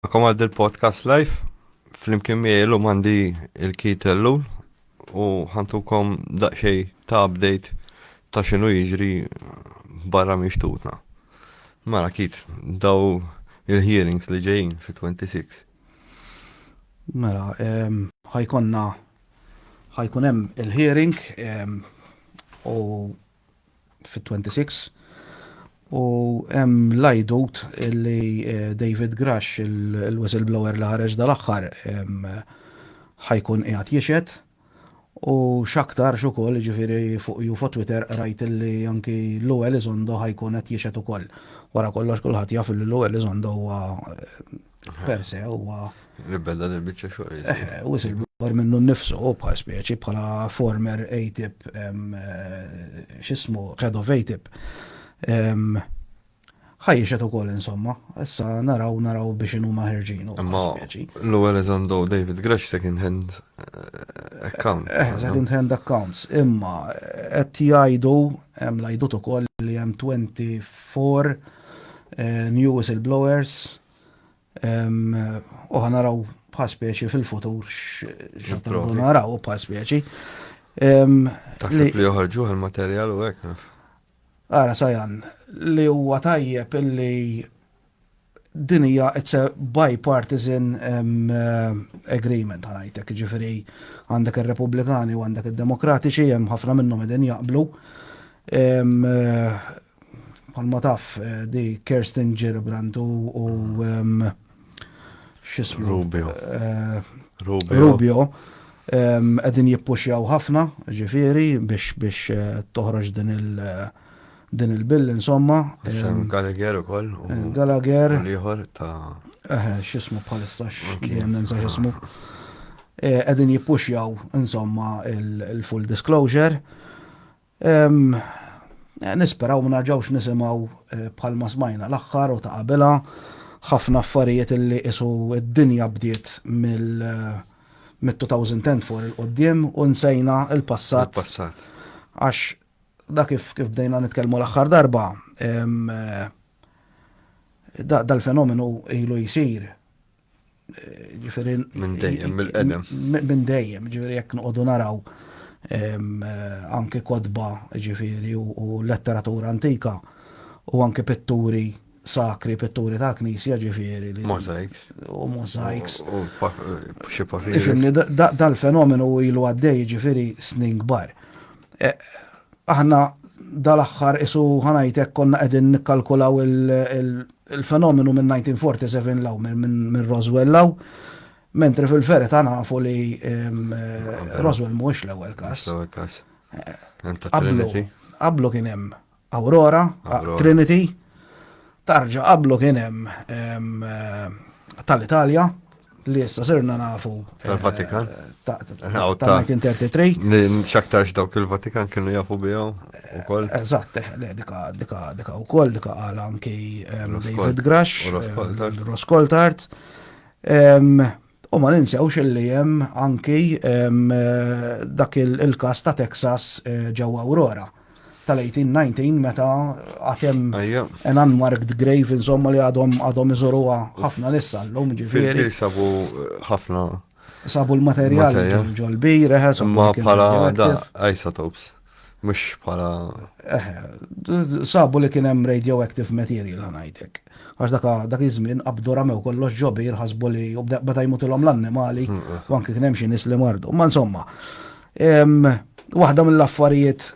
Magħkom għal dil-podcast live. Flimkien miegħi llum għandi il-Kit Ellul u ħantukom daqsxejn ta' update ta' x'inhu jiġri barra minn xtutna. Mara Kit, daw il-hearings li ġejjin fi 26. Mela, ehm, ħajkonna ħajkun hemm il-hearing ehm, u fit-26 u hemm l-għajdut li eh, David Grash, il-whistleblower li ħareġ dal-aħħar, ħajkun qiegħed jixed u x'aktar x'ukoll ġifieri fuq ju fuq Twitter rajt li anki Lou Elizondo ħajkun qed jixed ukoll. Wara kollox kulħadd jaf li Lou Elizondo huwa eh, per se huwa. Nibbenna din biċċa xogħol. Eh, eh, u silbor minnu nnifsu bħal speċi bħala former ATIP eh, x'ismu head of ATIP. Ħajjixet ukoll insomma, issa naraw naraw biex inhu maħerġin u speċi. L-ewwel eżandu David Gresh second hand account. Second hand accounts, imma qed jgħidu hemm l-għajdut ukoll li hemm 24 New whistleblowers, u ħanaraw bħal speċi fil-futur x'naraw naraw bħal speċi. Taħseb li joħorġu għal-materjal u hekk. Ara sajan, li huwa tajjeb illi din hija it's a bipartisan um, uh, agreement ħanajtek, ġifiri għandek ir-Repubblikani u għandek id-Demokratiċi hemm ħafna minnhom qegħdin jaqblu. Um, uh, Palma taf eh, di Kirsten Gillibrand u xismu. Rubio. Eh, Rubio. Rubio. Għedin jippuxjaw ħafna, ġifiri, biex biex eh, toħroġ din il- din il-bill, insomma. Sam Gallagher u koll. Gallagher. Liħor ta' Eħe, xismu bħalissa x'kien ninsa xismu. Qegħdin eh, jippuxjaw insomma il-full disclosure. Nisperaw ma narġawx nisimgħu bħalma smajna l-aħħar u ta' qabilha, ħafna affarijiet li qisu d-dinja bdiet mill-2010 fuq il-quddiem u nsejna l-passat. Għax dak kif bdejna nitkellmu l-aħħar darba, dal-fenomenu ilu jsir. Ġifieri minn dejjem mill-qedem. Minn dejjem, ġifieri jekk noqogħdu naraw anke kodba ġifieri u letteratura antika u anke pitturi sakri pitturi ta' knisja ġifieri. Mosaics. U mosaics. U xi papiri. Dal-fenomenu ilu għaddej ġifieri snin kbar. E, Aħna dal-aħħar qisu ħa ngħid hekk konna qegħdin nikkalkulaw il-fenomenu minn 1947 'l hawn, minn Roswell 'l hawn, mentri fil-verità nafu li Roswell mhuwiex l-ewwel każ. L-ewwel każ. Qablu kien hemm Aurora, Trinity, tarġa qablu kien hemm tal-Italja, li issa sirna nafu. Eh, Tal-Vatikan. Ta' 1933. Xaktarx dawk il-Vatikan kienu jafu bijaw u koll. Eh, eżatt, eh, dika, dika, dika u koll, dika għal anki David Grash, Roskoltart. U ma ninsewx li jem anki dak il-kas ta' Texas ġewwa Aurora. tal-1819 meta għatem an unmarked grave insomma li għadhom għadhom iżoruha ħafna lissa l-lum ġifieri. Sabu eh, ħafna. Sabu l-materjal ġol-bir, eħe, sabu. Ma bħala da isotopes, mux bħala. Sabu li kien hemm radioactive material ħanajtek. Għax daka dak iż-żmien qabdu ramew kollox ġobir ħasbu li bada jmutilhom l-annimali, hmm, eh. u anke kien hemm xi nies li mardu. Ma insomma, Waħda mill-affarijiet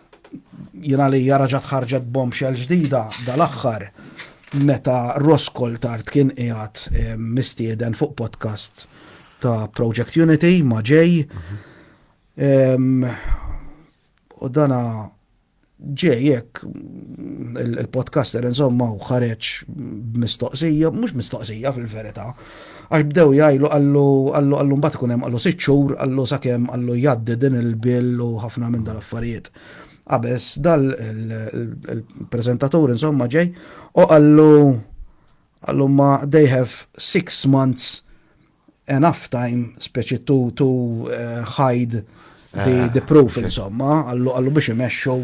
jina li jaraġat ħarġet bombshell ġdida dal-axħar meta Roskol tard kien qiegħed eh, mistieden fuq podcast ta' Project Unity ma' ġej. U dana ġej jekk il-podcaster insomma u ħareġ mistoqsija, mhux mistoqsija fil-verità, għax bdew jgħidu għallu għallu għallu mbagħad ikun hemm għallu sitt xhur għallu sakemm għallu jgħaddi din il-bill u ħafna minn dal-affarijiet. Qabes dal il-preżentatur insomma ġej u għallu għallu ma they have six months enough time, speċi to, to uh, hide the, ah, the proof, okay. insomma, għallu, għallu biex imexxu,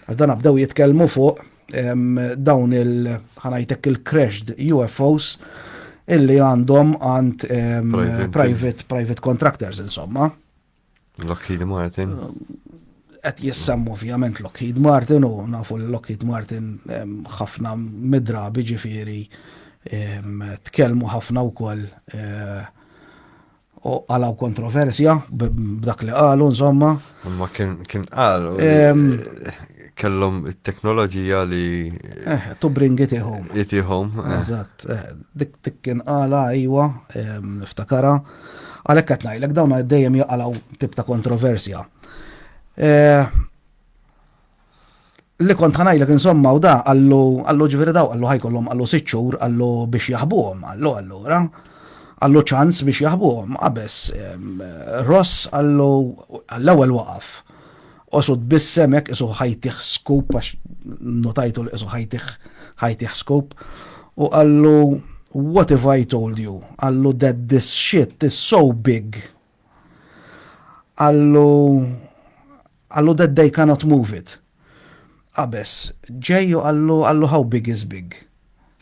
għax dan abdew jitkellmu fuq um, dawn il, ħanajtek il-crashed UFOs illi għandhom għand um, private, private, private contractors, insomma. Lockheed Martin. Qed jissem ovvjament Lockheed Martin u nafu li Lockheed Martin ħafna midrabi ġifieri tkellmu ħafna wkoll eh, u għalaw kontroversja b'dak li qalu insomma. Ma kien kien qalu kellhom it-teknoloġija li eh, to bring it home. It home. Eh. Eżatt, eh, dik kien qala iwa, niftakara. Għalhekk qed ngħidlek dawn dejjem jaqalgħu tip ta' kontroversja. Eh, li kont ħanajlek insomma u da għallu għallu ġifieri daw għallu ħajkollhom għallu sitt xhur għallu biex jaħbuhom għallu allura għallu ċans biex jaħbuhom qabess Ross għallu għall-ewwel waqaf Osu tbissem hekk isu ħajtih skup għax notajtu li isu ħajtih ħajtih skup u qallu what if I told you? Qallu that this shit is so big. Qallu qallu that they cannot move it. Abes, ġejju qallu qallu how big is big.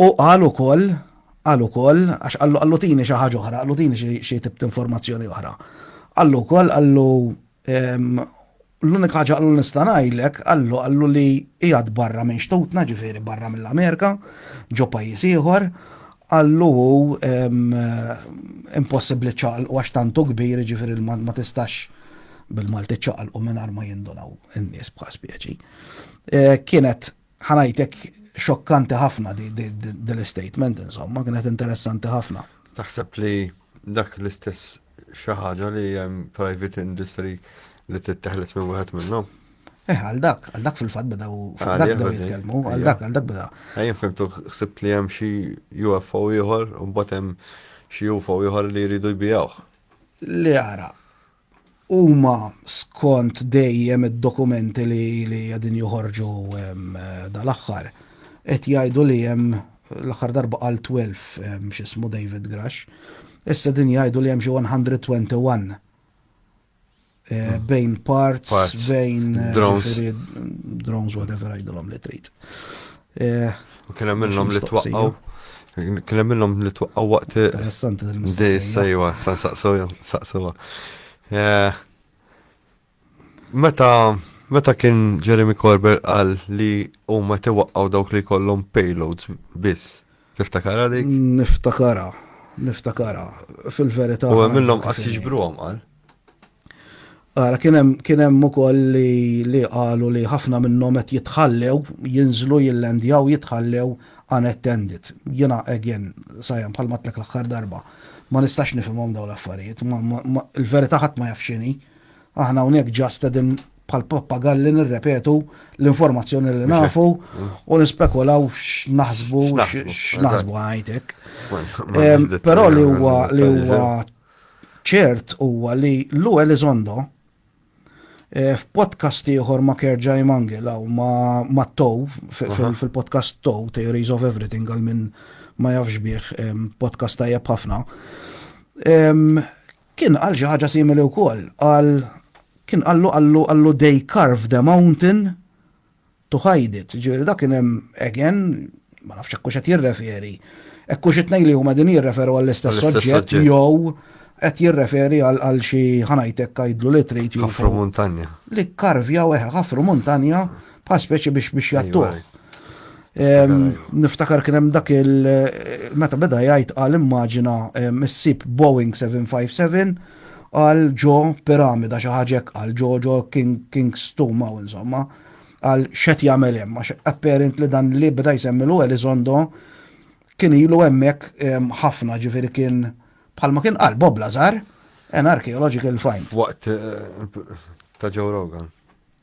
Hu qal ukoll, qal ukoll, għax qallu qallu tini xi ħaġa oħra, qallu tini xi tip t'informazzjoni oħra. Qallu wkoll qallu l-unika ħaġa qallu nista' ngħidlek, qallu qallu li qiegħed barra minn xtutna, ġifieri barra mill-Amerika, ġo pajjiż ieħor, qallu hu impossibbli ċaqalqu għax tantu kbir, ġifieri ma tistax bil-Malti ċaqalqu mingħajr ma jindunaw in-nies bħal speċi. Kienet Ħa ngħidlek xokkanti ħafna din l-istatement insomma, kienet interessanti ħafna. Taħseb li dak l-istess xi ħaġa li hemm private industry li titteħles minn wieħed minnhom? Eh, għal dak, għal dak fil-fat beda u għal dak beda jitkellmu, għal dak, għal dak beda. Għajn fimtu xsibt li hemm xi UFO ieħor u mbagħad hemm xi UFO ieħor li jridu jbijawh. Li għara, Huma skont dejjem id-dokumenti li qegħdin joħorġu dal-aħħar qed jgħidu li hemm, l-aħħar darba qal 12 x'ismu David Grush, issa qegħdin jgħidu li hemm xi 121 bejn parts, bejn drones, whatever għidilhom li trid. Kien hemm minnhom li twaqqgħu. Kien hemm minnhom li twaqqgħu waqt. Interessanti din il-mistoqsija. Sejwa, sa saqsewha, saqsewha. Eh, meta meta kien Jeremy Corbett qal li huma tiwaqqgħu dawk li jkollhom payloads biss. Tiftakarha dik? Niftakarha, niftakarha. Fil-verità. U għamilhom qas jiġbruhom qal? Ara, kien hemm ukoll li qalu li ħafna minnhom qed jitħallew, jinżlu jillendjaw jitħallew unattended. Jiena again, sajja bħal matlek l-aħħar darba. Ma nistax nifhimhom dawn l-affarijiet. Il-verità ħadd ma jaf x'inhi. Aħna hawnhekk ġast qegħdin bħal pappagalli nirrepetu l-informazzjoni li nafu u nispekulaw x'naħsbu x'naħsbu għajtek. Però li huwa li huwa ċert huwa li Lu Elizondo eh, f'podcast ieħor ma' Kerġaj Mangel u ma' Tow fil-podcast Tow Theories of Everything għal minn ma jafx bih podcast tajjeb ħafna. Kien qal xi ħaġa simili wkoll, qal, kien qallu qallu qallu they carved a mountain to hide it, jiġifieri dak kien hemm għegen, ma nafx hekk hux qed jirreferi, hekk hux it-tnejn li huma qegħdin jirreferu għall-istess soġġett jew qed jirreferi għal xi ħa ngħidlek għidlu li trid jew. Ħafru muntanja. Li kkarvjaw eħe ħafru muntanja bħal speċi biex biex jattuħ. Niftakar kien hemm dak il meta beda jgħid għal immaġina missib Boeing 757 għal ġo piramida xi ħaġa għal ġo ġo King Stum hawn insomma għal xet jagħmel hemm għax apparent li dan li beda jsemmi l Elizondo kien ilu hemmhekk ħafna ġifieri kien bħalma kien qal Bob Lazar an archaeological find. Waqt eh, ta' Joe Rogan.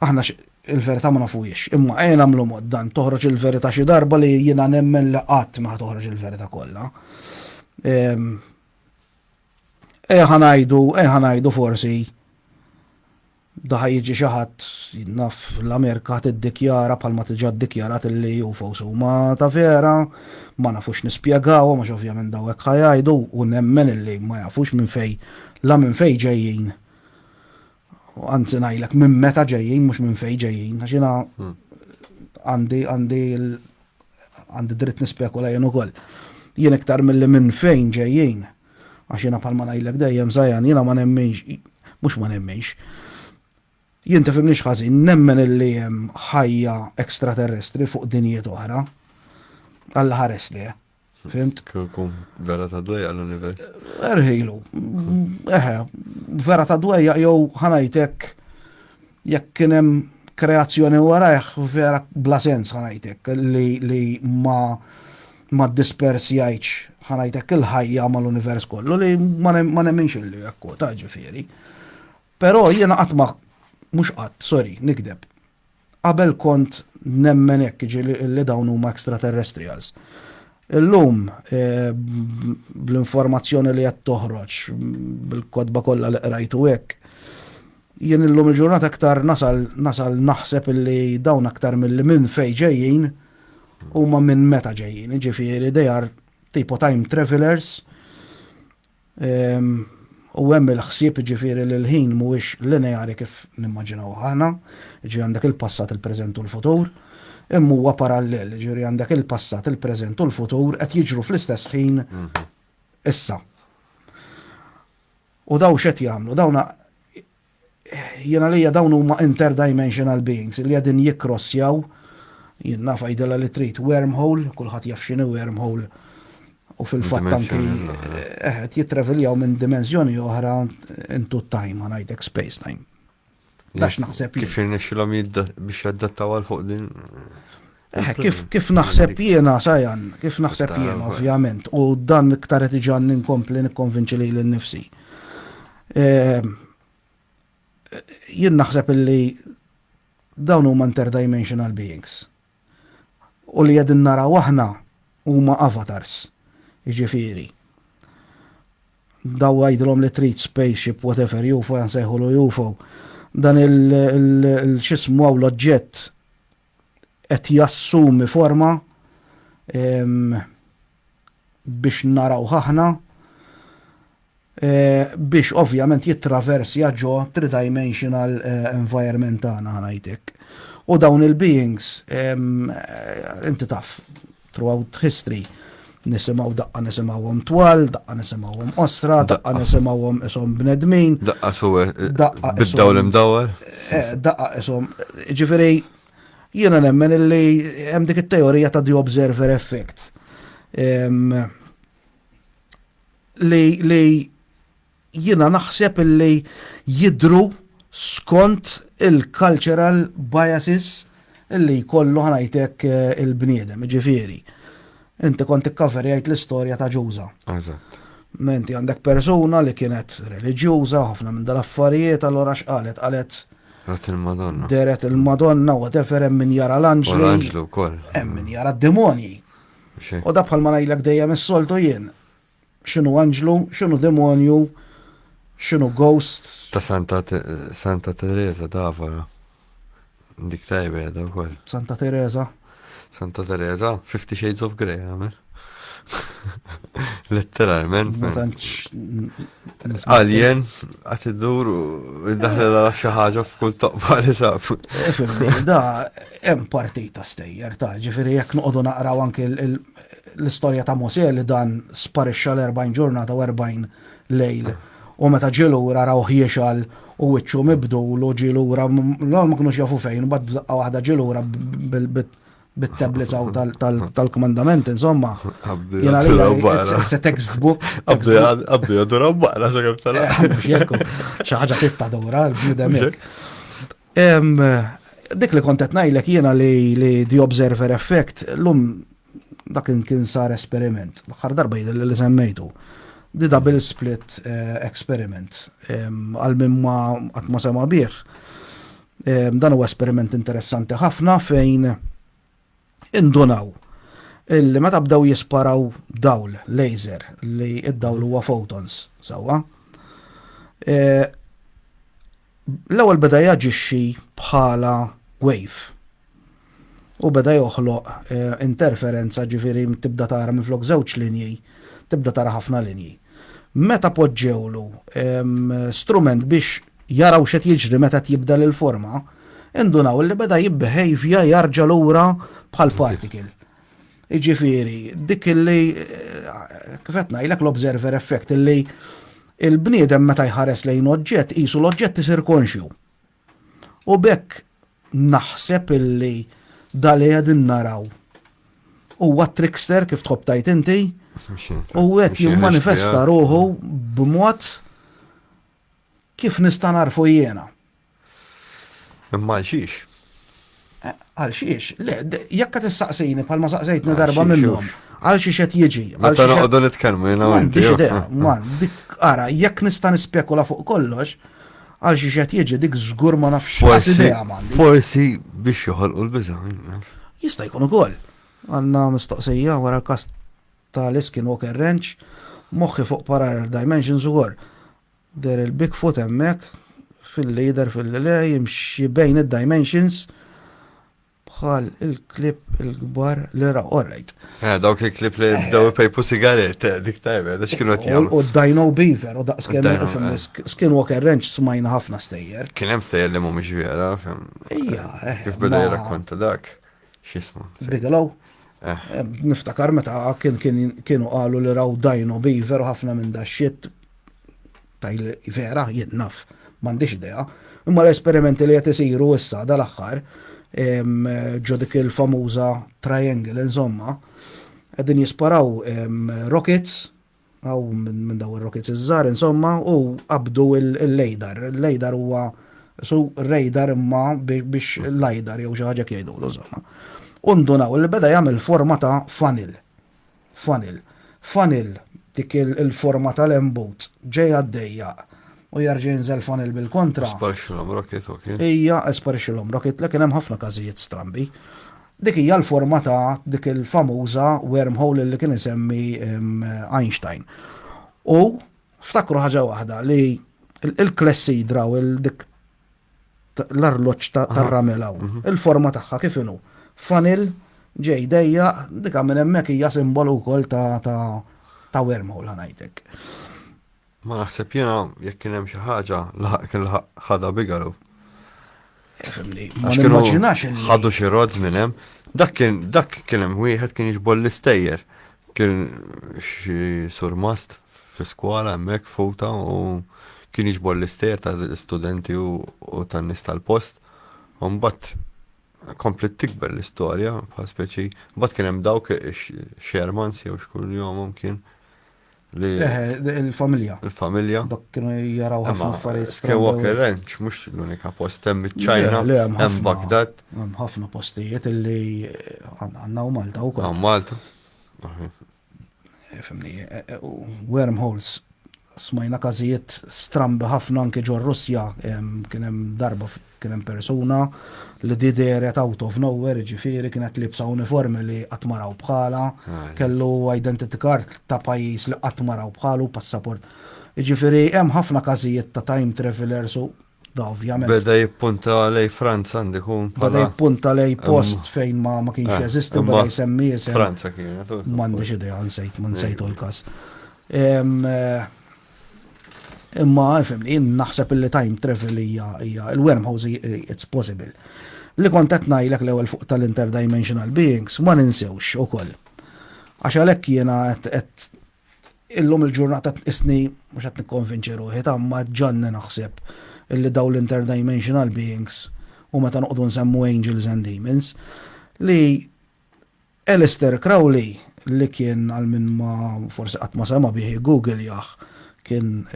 Aħna il-verità ma nafuhiex, imma ejja nagħmlu mod dan toħroġ il-verità xi darba li jiena nemmen li qatt ma toħroġ il-verità kollha. Ehm, ejja ħanajdu, ejja ħanajdu forsi daħa jiġi xi ħadd naf l-Amerika tiddikjara bħalma tiġa ddikjarat li UFOs huma ta' vera, ma nafux nispjegaw, ma ovvjament daw hekk ħajajdu u nemmen illi ma jafux minn fej la minn fej ġejjin Anzi ngħidlek minn meta ġejjin mhux minn fejn ġejjin għax jiena hmm. għandi għandi għandi dritt nispekula jien ukoll. Jien iktar milli minn fejn ġejjin għax jiena bħalma ngħidlek dejjem żajan jiena ma nemminx mhux ma nemminx. Jien tifhimniex ħażin nemmen illi hemm ħajja ekstraterrestri fuq dinjiet oħra. Alla ħares li. Fimt? Kum vera ta' dwejja l-univers. Erħilu. Eħe, vera ta' dwejja jew ħanajtek jekk kien hemm kreazzjoni warajh vera bla sens ħanajtek li, li ma ma dispersjajċ ħanajtek il-ħajja ma l-univers kollu li ma nemminx li jekku ta' ġifiri. Pero jiena qatt ma mhux qatt, sorry, nikdeb. Qabel kont nemmen hekk, jiġifieri li dawn huma extraterrestrials. Illum, bl-informazzjoni li qed toħroġ, bil-kotba kollha li qrajt u hekk, jien illum il-ġurnata aktar nasal nasal naħseb illi dawn aktar milli minn fejn ġejjin huma minn meta ġejjin, jiġifieri they are tipo time travellers U hemm il-ħsieb jiġifieri li l-ħin mhuwiex lineari kif nimmaġinawh aħna, jiġifieri għandek il-passat, il-preżent u l-futur, imma huwa parallel, jiġifieri għandek il-passat, il-preżent u l-futur qed jiġru fl-istess ħin issa. U dawn x'qed jagħmlu? Dawn Jiena lejja dawn huma interdimensional beings li qegħdin jikkrossjaw jien naf għidilha li trid wormhole, kulħadd jaf x'inhi wormhole u fil-fatt anki eh, qed jittraveljaw minn dimensjoni oħra into time, ngħidlek space time. Dax naħseb. Kif jirnexxilhom biex jaddattaw għal fuq din? Eh, kif, kif naħseb jiena, sajan, kif naħseb jiena, ovvjament, u dan iktar qed iġan ninkompli nikkonvinċi li l-nifsi. Ehm, jien naħseb li dawn huma interdimensional beings. U li qegħdin naraw aħna huma avatars, jiġifieri. Daw għajdlom li trid spaceship, whatever, UFO, jansejħu l UFO. Dan il-xismu għaw l-oġġett qed jassumi forma biex naraw ħahna biex ovvjament jittraversja ġo tridimensional environment tagħna ħanajtek. U dawn il-beings inti taf Throughout history nisimgħu daqqa nisimgħuhom twal, daqqa nisimgħuhom qosra, daqqa nisimgħuhom ishom bnedmin. Daqqa suwe, daqqa bid-dawl imdawwar. Eh, daqqa ishom. Ġifieri jiena nemmen illi hemm dik it-teorija ta' the observer effect. Li li Jiena naħseb li jidhru skont il-cultural biases li jkollu ħa ngħid hekk il-bniedem. Jiġifieri, inti kont ikkaverjajt l-istorja ta' Ġuża. Eżatt. Inti għandek persuna li kienet reliġjuża, ħafna minn dal-affarijiet, allura x'qalet? Qalet Rat il-Madonna. Deret il-Madonna, whatever, hemm min jara l-anġlu. L-anġlu wkoll. Hemm min jara d-demonji. U da bħal ma ngħidlek dejjem is-soltu jien. X'inhu anġlu, x'inhu demonju, x'inhu ghost. Ta' Santa Santa Teresa d'Avara. Dik tajba jada wkoll. Santa Teresa. Santa Teresa, Fifty Shades of Grey għamel. Letteralment. Alien, għat id-dur u id-daħla xaħġa f'kull toqba li sab. Da, hemm partita stejjer ta' ġifiri jek noqogħdu naqraw anke l-istorja ta' Mosè li dan sparixxa l-40 ġurnata u 40 lejl. U meta ġie lura rawh jixal u wiċċu mibdul u ġie lura l-għol ma kinux jafu fejn, bad b'daqqa waħda ġie lura bit-tablets għaw tal-kmandament, insomma. Se textbook. Għabdu jadura baqra, se kif tal-għabdu. Xaħġa fit-tadura, l-bnidem. Dik li kont qed ngħidlek jiena li the observer effect lum dak kien sar esperiment. L-aħħar darba jidher li semmejtu. The double split eh, experiment. Għal minn ma qatt ma sema bih. Dan huwa esperiment interessanti ħafna fejn indunaw illi meta bdew jisparaw dawl laser li id-dawl huwa photons sewwa. E, l-ewwel beda jaġixxi bħala wave u beda joħloq e, interferenza ġifieri tibda tara minflok żewġ linji, tibda tara ħafna linji. Meta poġġewlu strument biex jaraw x'qed jiġri meta qed jibdel il-forma, indunaw li beda jibbehavja jarġa' lura bħal particle. Iġifieri, dik illi kif qed ngħidlek l-observer effect illi il-bniedem meta jħares lejn oġġett qisu l-oġġett isir konxju. U bekk naħseb illi dali qegħdin naraw huwa trickster kif tħobb tajt inti u qed jimmanifesta ruħu b'mod Kif nista' narfu jiena? Imma għal xiex? Eh, għal xiex? Le, jekk qed issaqsini bħalma saqsejtni darba minnhom. Għal xiex qed jiġi? Meta noqogħdu nitkellmu jiena għandi. Man, dik ara, jekk nista' nispekula fuq kollox, għal xiex qed jiġi dik żgur ma nafx idea Forsi biex joħolqu l-biża. Jista' jkun ukoll. Għandna mistoqsija wara l-kast ta' li Skinwalker Ranch, moħħi fuq Parallel Dimensions ukoll. Deher il-Bigfoot hemmhekk filli jidher filli le jimxi bejn id-dimensions bħal il-klip il-kbar li ra orajt. Eh, dawk il-klip li bdew pejpu sigaret, eh, dik tajba, da xkienu qed jagħmlu. U Dino Beaver u daqs kemm eh. Skinwalker Ranch smajna ħafna stejjer. Kien hemm stejjer li mhumiex vera, fem. Ija, eh. Kif beda jirrakkonta dak. X'isma? Bigelow. Eh. Eh, niftakar meta kienu qalu li raw dajno biver u ħafna minn daxxiet taj vera jien naf m'għandix idea. Imma l-esperimenti li qed isiru issa dal-aħħar ġo dik il-famuża triangle insomma qegħdin jisparaw rockets Hawn minn dawn ir-rokits iż-żgħar insomma u qabdu l-LADAR. Il-LADAR huwa su radar imma biex LIDAR jew xi ħaġa hekk jgħidulu insomma. U ndunaw li beda jagħmel forma ta' funnel. Funnel. Funnel dik il-forma tal-embut ġej għaddejja u jerġa' jinżel funnel bil-kontra. Sparixxilhom rocket, ok. Ija, sparixxilhom rocket, le kien hemm ħafna każijiet strambi. Dik hija l-forma ta' dik il-famuża wormhole li kien isemmi Einstein. U ftakru ħaġa waħda li il-klessidra u dik l-arloġġ tar-ramel hawn, mhm. il-forma tagħha kif inhu. Fanil ġej dejja dik minn hemmhekk hija simbolu wkoll ta' wormhole ħanajtek. Ma naħseb jiena jekk kien hemm xi ħaġa laħaq kien laħaq ħadha bigalu. Fimni, ma nimmaġinax li. Ħadu xi rods minn hemm. Dak kien dak kien hemm wieħed kien jiġbol l-istejjer. Kien xi surmast fi skola hemmhekk futa u kien jiġbol l-istejjer ta' studenti u tan nies tal-post. U mbagħad komplet tikber l-istorja bħal speċi. Mbagħad kien hemm dawk Shermans jew xkun jomhom kien li. Eħe, il-familja. Il-familja. Dak kienu jaraw ħafna affarijiet. Skywalker Ranch mhux l-unika post hemm iċ-Ċajna, hemm Baghdad. Hemm ħafna postijiet li għandna u Malta wkoll. Għan Malta. Eh, fimni, eh, eh, wormholes smajna każijiet strambi ħafna anke ġo Russja kien hemm darba Kien hemm persuna li di dehret out of nowhere, jiġifieri kienet liebsa uniformi li qatt ma raw bħalha, kellu identity card ta' pajjiż li qatt ma raw bħalu, passaport. Jiġifieri hemm ħafna każijiet ta' time travellers u da ovvjament. Beda jippunta lejn Franza għandu jkun bħala. Beda jippunta lejn post fejn ma kienx jeżisti u beda jsemmi isem. Franza kienet. M'għandix idea, nsejt, ma nsejtu l-każ. Imma fimni, jien naħseb li time travel hija hija il-wormhouse it's possible. Li kont qed ngħidlek l-ewwel fuq tal-interdimensional beings ma ninsewx ukoll. Għax għalhekk jiena qed illum il-ġurnata isni mhux qed nikkonvinċi ruħi ta' ma ġanni naħseb illi daw l-interdimensional beings u meta noqogħdu nsemmu angels and demons li Aleister Crowley, li kien għal min ma forsi qatt ma sema' bih iggugiljah, kien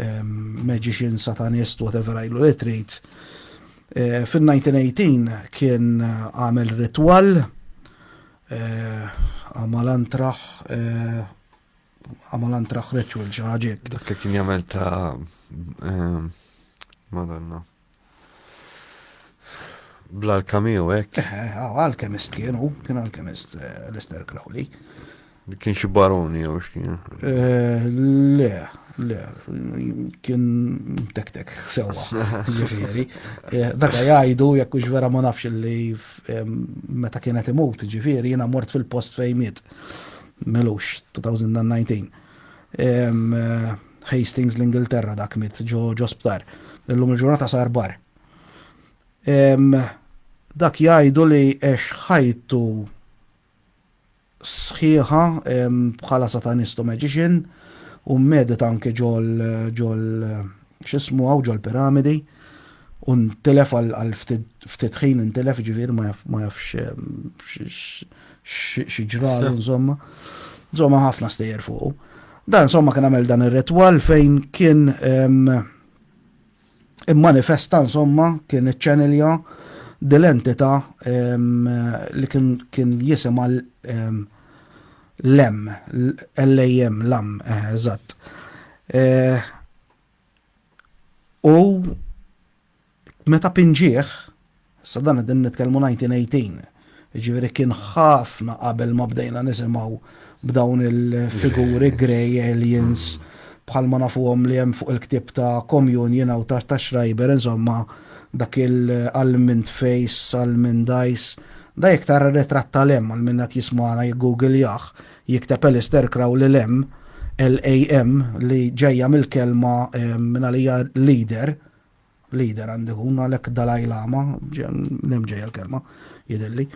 magician, satanist, whatever għidlu li trid, fin-1918 kien għamel ritwal, għamal antraħ, għamal antraħ ritual xi ħaġa hekk. Dak li kien jagħmel ta' Madonna. Bl-alkamiju hekk? Eh, eh, ah, alkemist kien hu, kien alkemist eh, Lester Crowley. Kien xi baroni jew x'kien? Le, le, kien tek-tek sewwa, ġifieri. Dak jgħidu jekk hux vera ma nafx li meta kienet imut, ġifieri jiena mort fil-post fejn miet. Melux 2019. Hastings l-Ingilterra dak mit ġo ġo sptar. Illum il-ġurnata sar bar. Dak jgħidu li għex ħajtu sħiħa bħala satanistu magician u medit anke ġol ġol xismu għaw ġol piramidi u ntilef għal ftit ħin ntilef ġivir ma jafx xieġralu nżomma. Nżomma ħafna stejjer fuq. Dan insomma kien għamel dan ir-ritwal fejn kien immanifesta insomma kien iċċenilja dil-entità li kien jisimha l-em, l-ejjem, l-am, eżatt. U Meta pinġieh, issa dan qegħdin nitkellmu 1918, jiġifieri kien ħafna qabel ma bdejna nisimgħu b'dawn il-figuri grey aliens bħal ma nafuhom li hemm fuq il-ktieb ta' Communion hawn ta' Schreiber insomma dak il-almond face, almond eyes, da jekk tara r-ritratt ta' Lem għal min qed jismagħna jiggugiljah, jikteb Alistair Crowley Lem, L-A-M, li ġejja mill-kelma mingħalija leader, Leader għandu jkun għalhekk Dalai Lama, nem ġejja l-kelma, jidilli,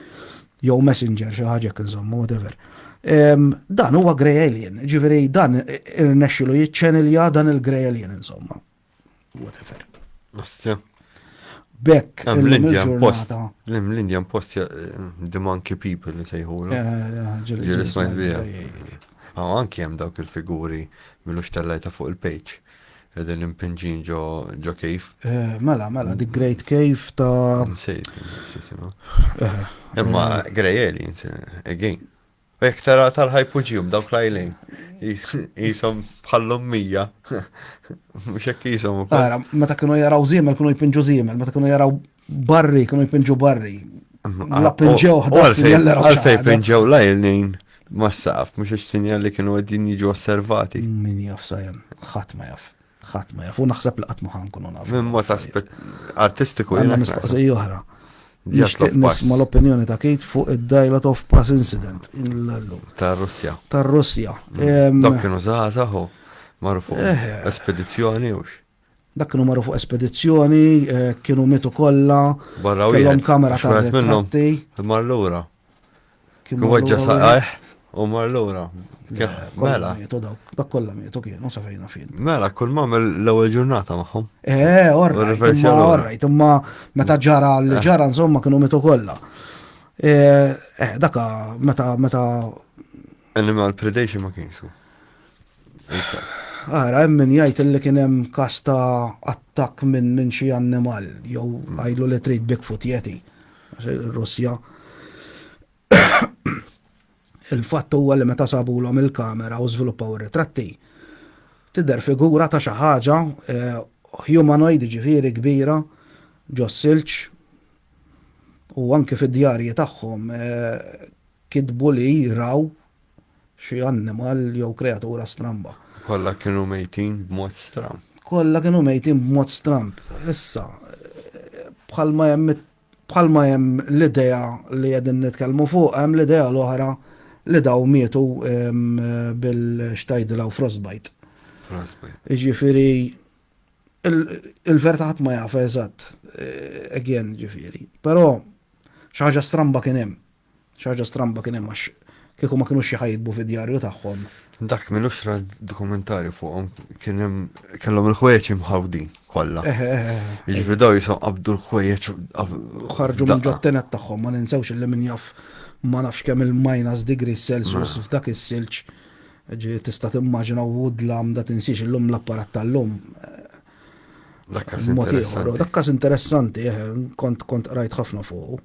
jew messenger xi ħaġa hekk insomma whatever. Dan huwa grey alien, ġifieri dan irnexxilu jiċċenilja dan il-grey alien insomma. Whatever. Astja. Bekk. L-Indian Post. L-Indian Post eh, the monkey people li sejħu. Eh, eh, Ġiris ma jbija. Għaw anki jem dawk il-figuri mill-ux tal-lajta fuq il-page. Qegħdin impinġin ġo ġo kejf. Eh, mela, mela, the great kejf ta' Nsejt, xisimu. Eh, Imma eh. Grey Aliens, again. U jek tara tal-ħajpuġiju b'dawk lajlejn, jisom bħallum mija. Mux jek jisom. Għara, meta kienu jaraw zimel, kienu jpinġu zimel, meta kienu jaraw Barri, kienu jpinġu barri. La pinġew ħdax jeller. Għalfej pinġew la jelnin ma saf, mux il-sinjal li kienu għedin jiġu osservati. Min jaf sajem, ħat ma jaf. ħat ma jaf, u naħseb li għatmu ħan kunu naf. Min mod aspet artistiku. Għanna mistaqsi joħra. Nishtiq nisma l-opinjoni ta' Kate fuq id-Dialot of Pass Incident il-lum. Ta' Russja. Ta' Russja. Dak kienu zaħzaħu, marfu. Espedizjoni ux. Dak kienu marru fuq espedizzjoni, eh, kienu mitu kollha. Barra u kellhom kamera ta' wieħed minnhom. Mar lura. Kien weġġa saqajh u mar lura. Mela. Dak kollha mietu kienu sa fejna fin. Mela, kull ma l-ewwel ġurnata magħhom. Eh, orrajt, orrajt, imma meta ġara li eh. ġara insomma kienu mitu kollha. Eh, eh, daka meta meta Animal predation ma kienx hu. Il-każ. Ara, hemm min jgħid illi kien hemm każ ta' attakk minn minn xi annimal jew għajlu li trid Bigfoot jeti. Russja. Il-fatt huwa li meta sabulhom il-kamera u żviluppaw ir-ritratti, tidher figura ta' xi ħaġa humanoid ġifieri kbira ġo silġ u anki fid-djarji tagħhom Kitbu li raw xi annimal jew kreatura stramba. Kollha kienu mejtin b'mod stramb. Kollha kienu mejtin b'mod stramb. Issa, bħalma hemm bħalma hemm l-idea li qegħdin nitkellmu fuqha hemm l-idea l-oħra li dawn mietu bil x'tgħidilha u frostbite. Frostbite. Jiġifieri il-verità ħadd ma jaf eżatt again ġifieri. Però xi ħaġa stramba kien hemm. Xi ħaġa stramba kien hemm għax kieku ma kinux xi ħajjitbu fid-djarju tagħhom. Dak minn uxra dokumentari fuqhom kien hemm kellhom il-ħwejjeġ imħawdin kollha. Eh, eh, eh, Jiġifieri daw jisom qabdu l-ħwejjeġ ħarġu minn ġottenet tagħhom ma ninsewx li min jaf ma nafx kemm il-minus degree Celsius f'dak is-silġ. Ġi tista' timmaġina woodlam da tinsiex illum l-apparat tal-lum. Dakkas interessanti. Dakkas interessanti, kont kont rajt ħafna fuq.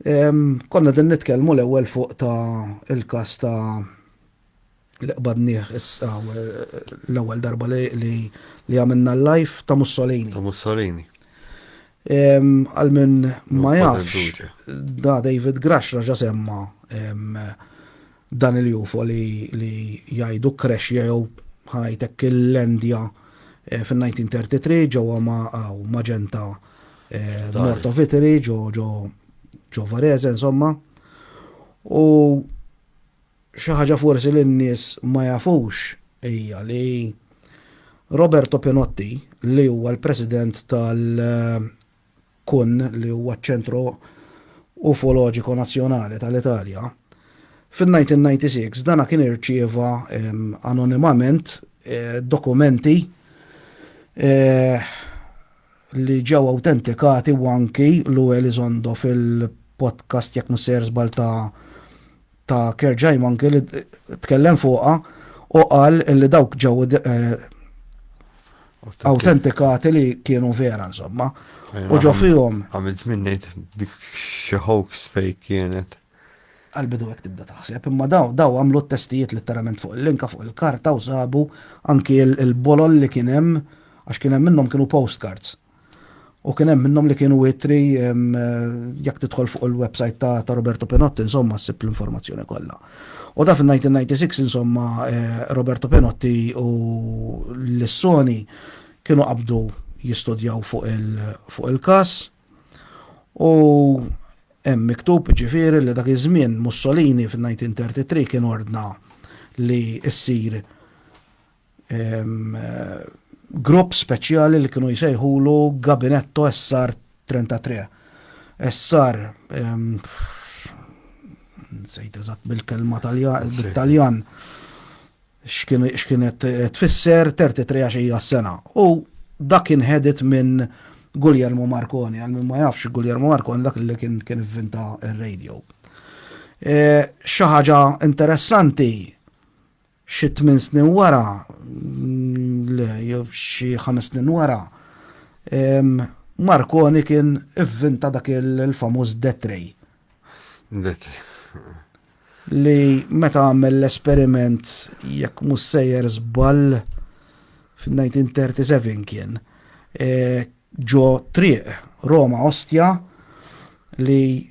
Konna qegħdin nitkellmu l-ewwel fuq ta' il-każ ta' li qbadnieh issa l-ewwel darba li għamilna l-live ta' Mussolini. Ta' Mussolini. Għal minn ma jafx, da David Grash raġa semma Dan il-UFO li jgħidu kkrexxja jew, ħa ngħid hekk, illendja fin-1933 ġewwa Magenta North of Italy, ġo Varese insomma. U xi ħaġa forsi li n-nies ma jafux hija li Roberto Pinotti li huwa l-President tal- Kun, li huwa ċ-ċentru ufoloġiku nazzjonali tal-Italja, fin-1996 dan kien irċieva anonimament dokumenti li ġew awtentikati u anki Lou Elizondo fil-podcast jekk mhux sejjer żball ta' ta' Kerjai Manke li tkellem fuqha u qal li dawk ġew eh, autentikati li kienu vera insomma. U ġo fihom. Għamilt minnejt dik xi hoax fej kienet. Għalbidu għek tibda taħseb, imma daw, daw għamlu t-testijiet letteralment fuq il-linka fuq il-karta u sabu anki il-bolol li kienem, għax kienem minnom kienu postcards. U kien hemm minnhom li kienu witri jekk tidħol fuq il-website ta', ta Roberto Pinotti insomma ssib l-informazzjoni kollha. U da fil-1996 insomma eh, Roberto Pinotti u l-Sony kienu qabdu jistudjaw fuq il-kas u hemm miktub ġifieri li dak iż-żmien Mussolini fil-1933 kien ordna li ssir grupp speċjali li kienu jsejħulu Gabinetto SR 33. SR nsejt eżatt bil-kelma tal-Taljan x'kienet tfisser 33 għax hija s-sena. U dak inħedit minn Guglielmo Marconi, għal minn ma jafx Guglielmo Marconi dak li kien kien vinta il-radio. E, Xaħġa interessanti Xi tmien snin wara, le, jew xi ħames snin wara, Marconi kien ivvinta dak il-famuż death ray. Death ray. Li meta għamel l-esperiment jekk mhux sejjer żball fin-1937 kien eh, ġo triq Roma Ostia li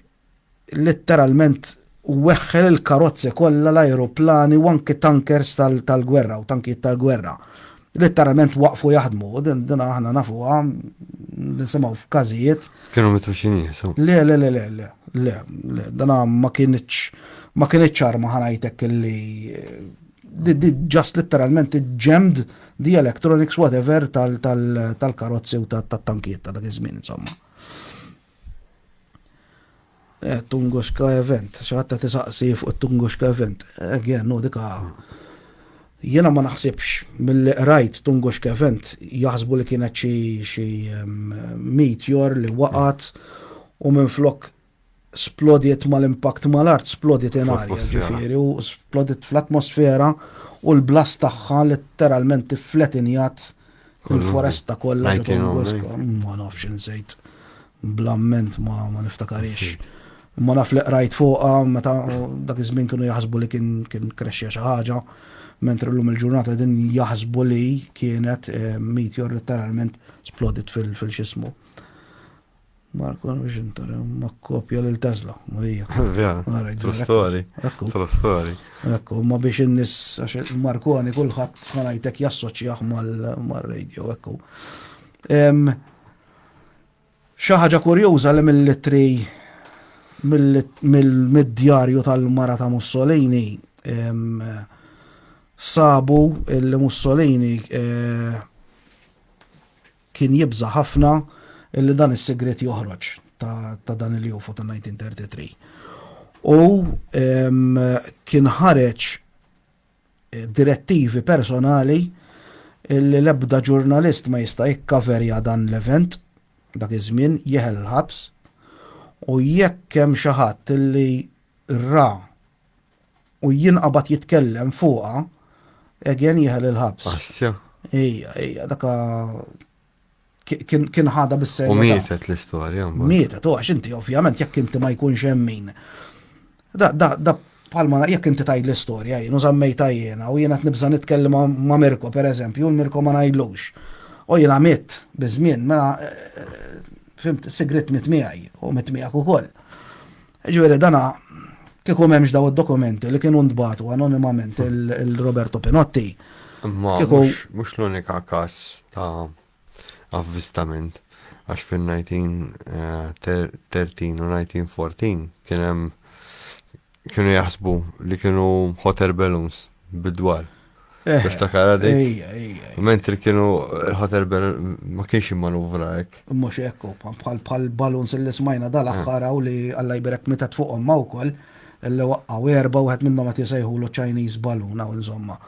Litteralment weħħel il-karozzi kollha, l-ajruplani u anki tankers tal-gwerra u tankijiet tal-gwerra. Litteralment waqfu jaħdmu, u din din aħna nafuha nisimgħu f'każijiet. Kienu mitfuxin jisu. Le, le, le, le, le, le, le, dan ma kienx ma kienx arma ħanajtek li ġast literalment ġemd di electronics whatever tal-karozzi u tal-tankiet ta' dak iż-żmien insomma. Eh, Tunguska event, xaħta tisaqsi fuq Tunguska event. Again, no, dika. Jena ma naħsibx mill-li rajt Tunguska event jaħsbu li kienet xi xi meteor li waqat u minn flok splodiet mal-impact mal-art, splodiet in arja ġifiri u splodiet fl-atmosfera u l-blast tagħha letteralment tifletinjat Il-foresta kollha ta' Don Bosco, ma nafx insejt blamment ma ma niftakarix. Ma naf li qrajt fuqha meta dak iż-żmien kienu jaħsbu li kien kien krexxija xi ħaġa, mentri llum il-ġurnata din jaħsbu li kienet eh, meteor letteralment splodit fil-xismu. Marko, għan biex intara, ma kopja l-tazla, Marija. Vera, true story. True story. Ekku, ma biex innis, għax Markoni kullħat smanajtek jassoċjaħ mal-radio, ekku. ħaġa kurjuża li mill-litri mill-djarju tal-mara ta' Mussolini sabu il-Mussolini eh, Kien jibża' ħafna li dan is-sigriet joħroġ ta' dan il-UFO ta' 1933. U kien ħareġ direttivi personali li l-ebda ġurnalist ma jista' jikkaverja dan l-event dak iż-żmien jeħel il-ħabs u jekk hemm xi ħadd li ra u jinqabad jitkellem fuqa, again jieħel il-ħabs. Assja. Ija, ija, daka kien ħada bis-serjetà. U mietet l-istorja. Mietet, u għax inti ovvjament jekk inti ma jkunx hemm min. Da, da, da palma jekk inti tajd l-istorja jien u żammejta jiena u jiena qed nibża' nitkellem ma' Mirko pereżempju, u l-Mirko ma ngħidlux. U jiena mitt biż-żmien, mela eh, fimt sigrit mit miegħi u mit miegħek ukoll. Jiġifieri dan kieku m'hemmx dawn id-dokumenti li kienu ntbagħtu anonimament lil Roberto Pinotti. Imma mhux l-unika każ ta' avvistament għax fin-1913 u 1914 kien hemm kienu jaħsbu li kienu hot air balloons bid-dwal. Eh, Niftakara dik. Ejja, ejja. ejja. Mentri kienu il-ħotel ben ma kienx immanuvra hekk. Mhux hekk u bħal bħal baluns li smajna dal-aħħar hawn li Alla jbirek mitet fuqhom ma wkoll li waqqgħu erba' wieħed minnhom qed jisejħulu Chinese balloon hawn insomma.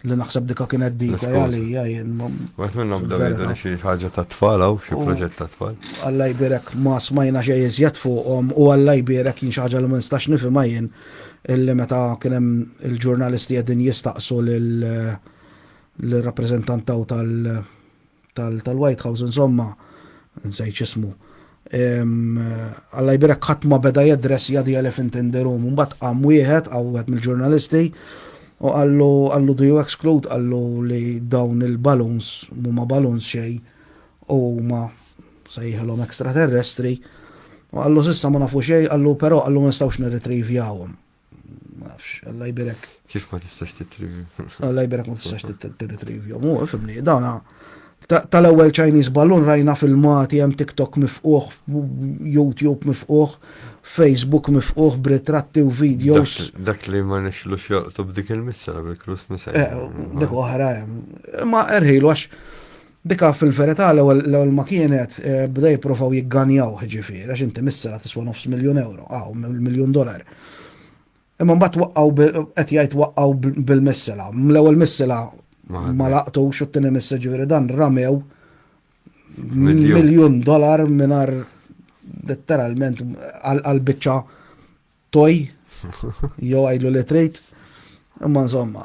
Li naħseb dika kienet dika L-iskuża. għalija jien. ma- Wieħed minnhom bdew Vera. jgħidu li xi ħaġa ta' tfal hawn, xi proġett ta' tfal. Alla jbirek ma smajna xej iżjed fuqhom u Alla jbirek jien xi ħaġa li ma nistax nifhimha jien. illi meta kien hemm il-ġurnalisti qegħdin jistaqsu lir-rappreżentant taw tal-White House insomma, nsejt x'ismu, Alla jbierek ħadd ma beda jaddressja the elephant in the room. Imbagħad qam wieħed hawn wieħed mill-ġurnalisti u qallu qallu do you exclude qallu li dawn il-balloons mhuma balloons xejn u huma Sejħilhom ekstraterrestri u qallu s'issa ma nafu xejn, qallu però qallu ma nistgħux nirritrivjawhom. Nafx, Alla jbirek. Kif ma tistax titrivju? Alla jbirek ma tistax titrivju. Mu, fimni, dawna tal-ewwel Chinese ballun rajna filmati hemm TikTok mifquħ, YouTube mifquħ, Facebook mifquħ b'ritratti u videos. Dak li ma nixlux joqtu b'dik il-missa bil-Christmas. Eh, dik oħra hemm. Ma erħilu għax Dika fil-verità l-ewwel ma kienet bdew jipprovaw jigganjawh jiġifieri għax inti misserha tiswa' nofs miljun ewro, hawn miljun dolar. Imma mbagħad waqqgħu qed jgħid waqqgħu bil-missela. L-ewwel missela ma laqtux u t-tieni missela jiġifieri dan ramew miljun dolar mingħajr letteralment għal biċċa toj jew għidlu li trid. Imma insomma.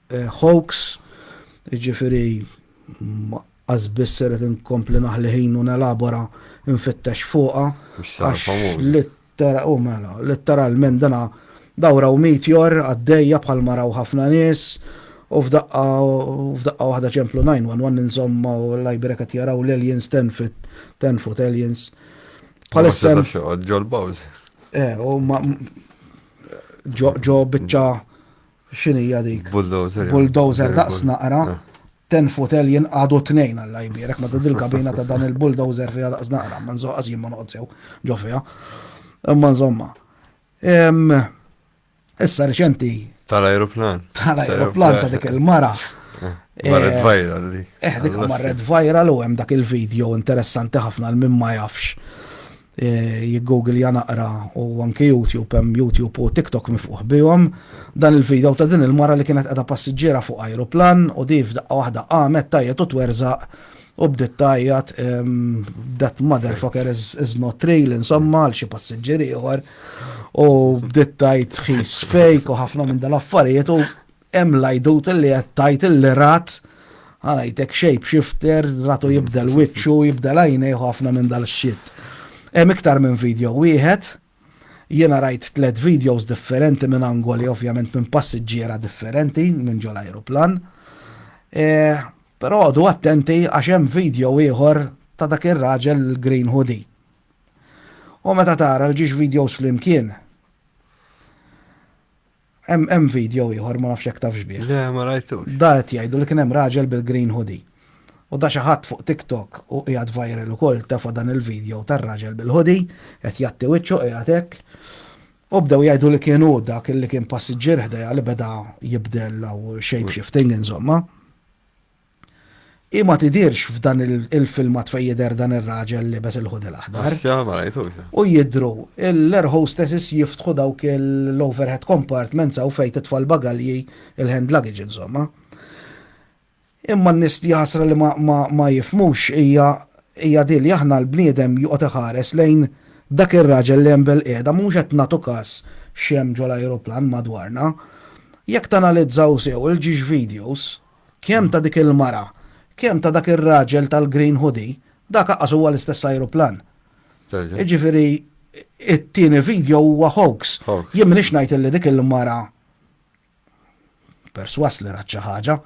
hoax, jiġifieri as biss irrid inkompli naħli ħin u nelabora nfittex fuqha. Mhux sar famuża. U mela, litteralment dana dawra u meteor għaddejja bħal maraw ħafna nies u f'daqqa f'daqqa waħda ċemplu 911 insomma u l-lajbira qed jaraw l-aliens tenfit tenfut aliens. Bħalissa. Ġol Bowser. Eh, u ma ġo biċċa X'inhija dik? Bulldozer. Bulldozer daqs naqra. Ten foot alien għadu tnejn għal jbierek ma dil kabina ta' dan il-bulldozer fiha daqs naqra, ma nżoqqas jien ma noqgħod sew ġo fiha. Imma nżomma. Issa reċenti. Tal-aeroplan. Tal-aeroplan ta' dik il-mara. Eh, marret eh, viral li. Eh, dik marret viral u hemm dak il-video interessanti ħafna l-min ma jafx. Jiggooglja naqra u anki YouTube hemm YouTube u TikTok mifqugħ bihom. Dan il-video ta' din il-mara li kienet qiegħda passiġġiera fuq ajruplan u di f'daqqa waħda qamet tgħajjet u twerżaq u bdiet tgħajjat that motherfucker is not real insomma għal xi passiġġier ieħor u bdiet tgħid he's fake u ħafna minn dal-affarijiet u Hemm lajdut li qed tajt il-lirat għalajtek shape shifter, ratu mm. jibdel witxu, jibdel għajnej ħafna minn dal-xit. Hemm iktar minn video wieħed, jiena rajt tlet videos differenti minn angoli, ovvjament minn passiġġiera differenti, minn ġol aeroplan. E, Però għadu attenti għax hemm video ieħor ta' dak ir-raġel green hoodie. U meta tara l-ġiex videos flimkien, Hemm hemm video ieħor ma nafx jekk tafx bih. Le, ma rajtux. Da qed jgħidu li kien hemm raġel bil-green hoodie. U da xi ħadd fuq TikTok u qiegħed viral ukoll tefa' dan il-video tar-raġel bil-hoodie qed jgħatti wiċċu qiegħed hekk. U bdew jgħidu li kien hu dak li kien passiġġier ħdejha li beda jibdel u shape shifting insomma. Hi ma tidhirx f'dan il-filmat fejn jidher dan ir-raġel libes il-hoodie l-aħdar. U jidhru l-air hostesses jiftħu dawk l-overhead compartments hawn fejn titfa' l-bagalji il-hand luggage insomma. Imma n-nies jaħasra li ma jifhmux hija hija din li aħna l-bniedem joqgħod iħares lejn dak ir-raġel li hemm bilqiegħda mhux qed nagħtu każ x'hemm ġol-ajruplan madwarna. Jekk tanalizzaw sew il-ġiex videos, Kemm ta' dik il-mara, kemm ta' dak ir-raġel tal-green hoodie, dak aqqas huwa l-istess ajruplan. Jiġifieri it-tieni video huwa hoax. Jien m'iniex ngħid illi dik il-mara perswas li rat xi ħaġa.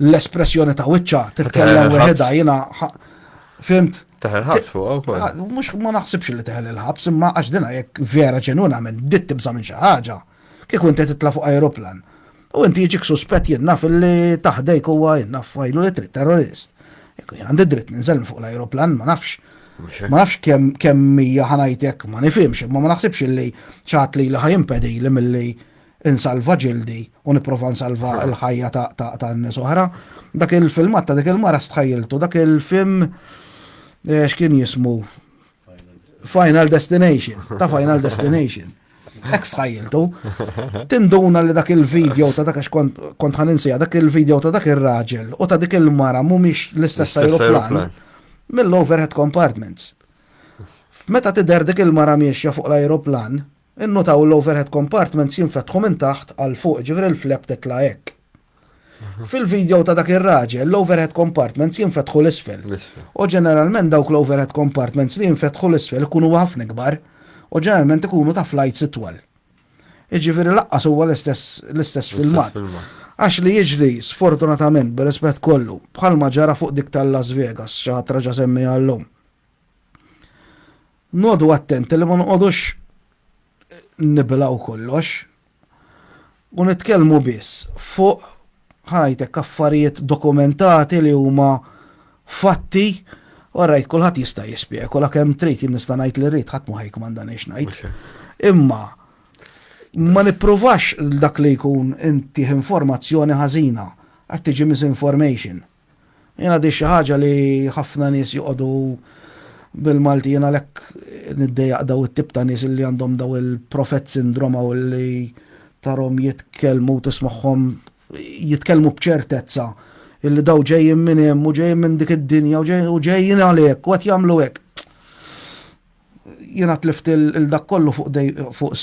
L-espressjoni ta' wiċċa titkellem weħidha jiena fimt. Teħel il-ħabs fuq ukoll. Ah, mhux ma naħsibx li teħel il-ħabs imma għax dina jekk vera ġenwinament dit tibża' minn xi ħaġa. Kieku inti titla' fuq ajruplan u inti jiġik suspett jien naf li taħdejk huwa jien naf fajlu li trid terrorist. Kieku jien għandi dritt ninżel minn fuq l-ajruplan ma nafx. Ma nafx kemm kemm hija ħanajtek ma nifhimx imma ma naħsibx li xi ħadd lili ħa jimpedili milli insalva ġildi u nipprova nsalva l-ħajja ta' nies oħra. Dak il-filmat ta' dik il-mara stħajjiltu dak il-film eh, x'kien jismu Final Destination, ta' Final Destination. Ex ħajjiltu, tinduna li dak il-video ta' dak kont kont ħaninsija dak il-video ta' dak ir-raġel u ta' dik il-mara mhumiex l-istess L-istess aeroplan aeroplan. mill-overhead compartments. Meta tidher dik il-mara miexja fuq l-aeroplan, innutaw l-overhead compartments jinfetħu minn taħt għal fuq, ġifieri l-flap titla' hekk. Fil-video ta' dak ir-raġel, l-overhead compartments jinfetħu l-isfel. U ġeneralment dawk l-overhead compartments li jinfetħu l-isfel ikunu ħafna kbar u ġeneralment ikunu ta' flights itwal. Iġifieri laqqas huwa l-istess filmat. Għax li jiġri sfortunatament b'rispett kollu bħalma ġara fuq dik tal-Las Vegas xi ħadd raġa' semmi għallhom. Nodu attenti li ma noqogħdux nibilgħu kollox u nitkellmu biss fuq ħajtek affarijiet dokumentati li huma fatti u rajt kulħadd jista' jispekula kemm trid jien nista' ngħid li rrid ħadd ma ħajkmanda nix ngħid. Imma ma nippruvax dak li jkun intih informazzjoni ħażina għad tiġi misinformation. Jiena di xi ħaġa li ħafna nies joqogħdu bil-Malti jiena għalhekk niddejjaq daw it-tip ta' nies li għandhom daw il-prophet syndrome hawn li tarhom jitkellmu u tismagħhom jitkellmu b'ċertezza illi daw ġejjin minn hemm u ġejjin minn dik id-dinja u ġejjin għalhekk u qed jagħmlu hekk. Jiena tlift il dak kollu fuq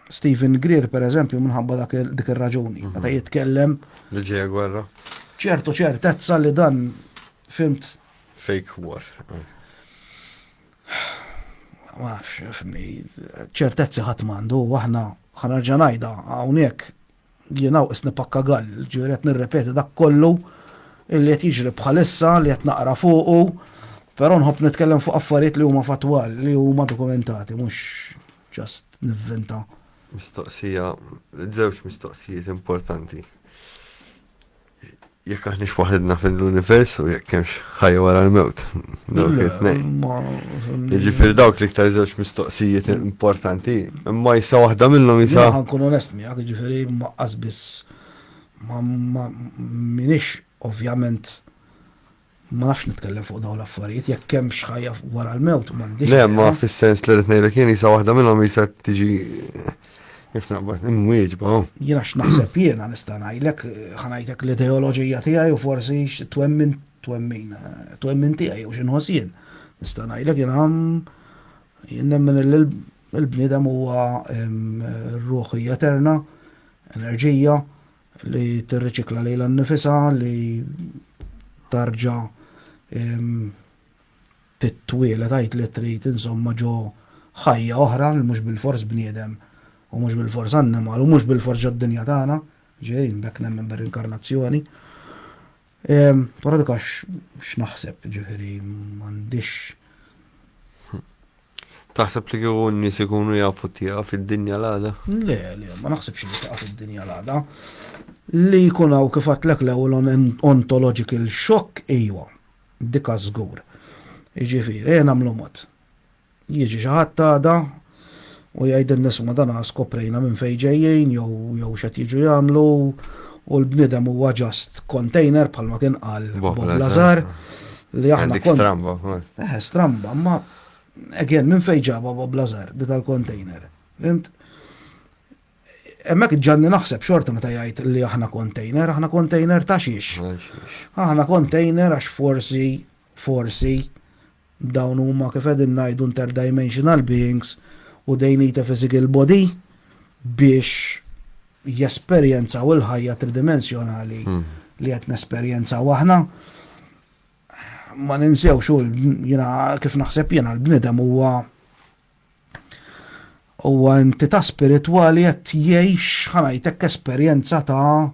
Stephen Greer, per eżempju, minħabba dak dik ir-raġuni. Mhm. Meta jitkellem. Li ġeja gwerra. ċertu ċertezza li dan fimt. Fake war. Maħx, fimni, ċertezzi ħatmandu, waħna ħanarġanajda għawnek Jinaw is nipakka gall, ġifieri qed nirrepeti dak kollu illi qed jiġri bħalissa li qed naqra fuqu, però nħobb nitkellem fuq affarijiet li huma fatwal, li huma dokumentati, mhux ġast nivvinta. Mistoqsija, żewġ mistoqsijiet importanti. Jekk aħniex waħedna fil-univers u jekk hemmx ħajja wara l-mewt. Dawk it-tnejn. Jiġifieri dawk li iktar żewġ mistoqsijiet importanti, imma jisa waħda minnhom jisa. Jien ħankun onest miegħek, jiġifieri ma qasbis ma minix ovvjament Ma nafx nitkellem fuq dawn l-affarijiet, jekk hemmx ħajja wara l-mewt m'għandix. Le, ma fis-sens li qed ngħidlek jien isa waħda minnhom isa tiġi kif naqbad imwieġba. Oh. Jiena x'naħseb jiena nista' ngħidlek ħanajtek l-ideoloġija tiegħi u forsi twemmin twemmin twemmin tiegħi u x'inħoss jien. Nista' ngħidlek jiena jien nemmen il-bniedem huwa ruħi eterna, enerġija, li tirriċikla lilha nnifisha, li tarġa' titwieled għid li trid insomma ġo ħajja oħra li mhux bilfors bniedem u mhux bilfors annimal u mhux bilfors ġod-dinja tagħna, ġifieri bekk nemmen bir-rinkarnazzjoni. Però dik għax x'naħseb, ġifieri m'għandix. Taħseb li kieku n-nies ikunu jafu tiegħu fid-dinja l-għada? Le, le, ma naħsibx li taqa' fid-dinja l-għada. Li jkun hawn kif għatlek l-ewwel ontological shock, ejwa, dika żgur. Jiġifieri, ejja nagħmlu mod. Jiġi xi ħadd għada u jgħidilna isma' dan skoprejna minn fejn ġejjin jew jew x'qed jiġu jagħmlu u l-bniedem huwa just container bħalma kien qal Bob Lazar li aħna kont. Stramba. Eh, stramba, ma again minn fejn ġabha Bob Lazar di tal-container. Fimt? Emmek ġanni naħseb xorta meta jgħid li aħna container, aħna container ta' xiex. Aħna container għax forsi, forsi, Dawn huma kif qegħdin ngħidu interdimensional beings u they need a physical body biex jesperjenzaw il-ħajja tridimensjonali li qed nesperjenzaw aħna. Ma ninsewx u jiena kif naħseb jiena l-bniedem huwa huwa entità spiritwali qed jgħix ħanajtek esperjenza ta'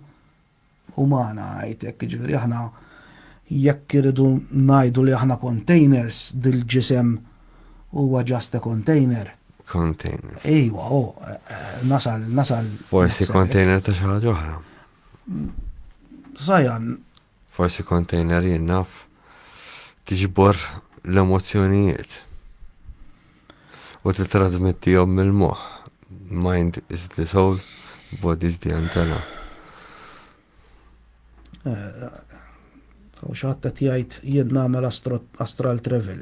umana ngħid hekk, jiġifieri aħna jekk irridu ngħidu li aħna containers, dil-ġisem huwa just a container. Container. Ejwa, oh, nasal, nasal. Forsi container ta' xi ħaġa oħra. Sajan. Forsi container jinnaf tiġbor l-emozzjonijiet. u tittrażmettihom mill-moħħ, mind is the soul, body is the antenna. U xaħta tijajt jien namel astral travel.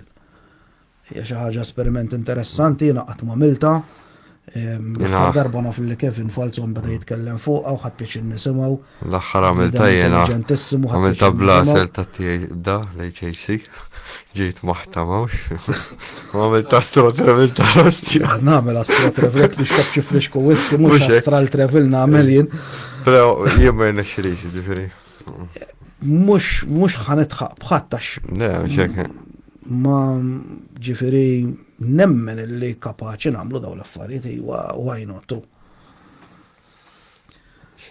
Hija xi ħaġa esperiment interessanti, jiena qatt ma milta. L-aħħar darba naf li Kevin Falzon bada jitkellem fuq u ħadd pieċin nisimgħu. L-aħħar għamilta jiena. Għamilta blasel ta' tiegħi da l-HHC. Ġejt maħta mawx. Għamilta astro travel ta' rostja. Nagħmel astro travel biex xabċi frisko wissi mhux astral travel nagħmel jien. Però jien ma jirnexxilix, ġifieri. Mhux mhux ħanitħaq bħadd għax. Le, xek. Ma ġifieri nemmen li kapaċi nagħmlu dawn l-affarijiet iwa why not.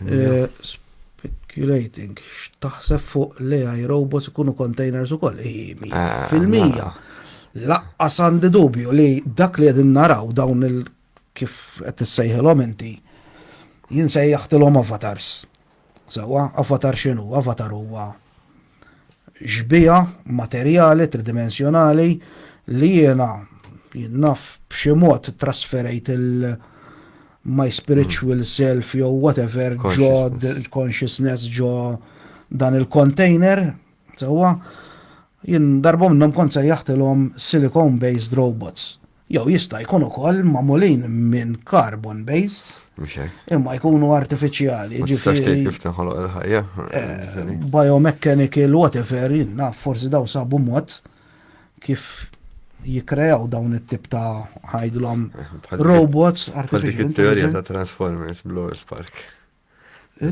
Eh, speculating, x'taħseb fuq li għaj robots ikunu containers ukoll, ah, fil-mija. Laqqas għandi dubju li dak li għedin naraw dawn il- kif qed issejħilhom inti, jinsejjaħtilhom avatars. Sewwa, avatar x'inhu? Avatar huwa xbieha materjali tridimensjonali li jiena jien naf b'xi mod trasferejt il- my spiritual self jew whatever ġo consciousness ġo dan il-container, sewwa, jien darba minnhom kont sejjaħtilhom silicone based robots. Jew jista' jkun ukoll magħmulin minn carbon base. Mhux hekk. Imma jkunu artifiċjali. Tistax tgħid kif tinħoloq il-ħajja. Eh, biomechanical whatever, naf forsi daw sabu mod kif jikrejaw dawn it-tip ta' ħajdlom robots artificial. Dik it-teorija ta' Transformers bl-Spark.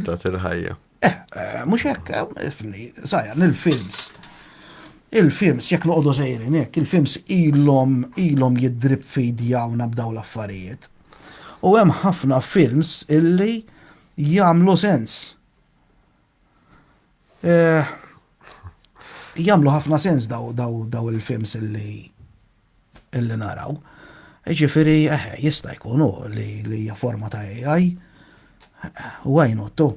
Tat il-ħajja. Eh, eh, mux hekk, eh, ifni, zaħja, nil-films. Il-films, jek noqdu zejrin, jek, il-films ilom, ilom jidrib fidja u nabdaw l-affarijiet. U hemm ħafna films illi jamlu sens. Jamlu ħafna sens daw, daw, daw il-films illi illi naraw. Ġifiri, eh, jista' jkun u li hija forma ta' AI, u għajnottu.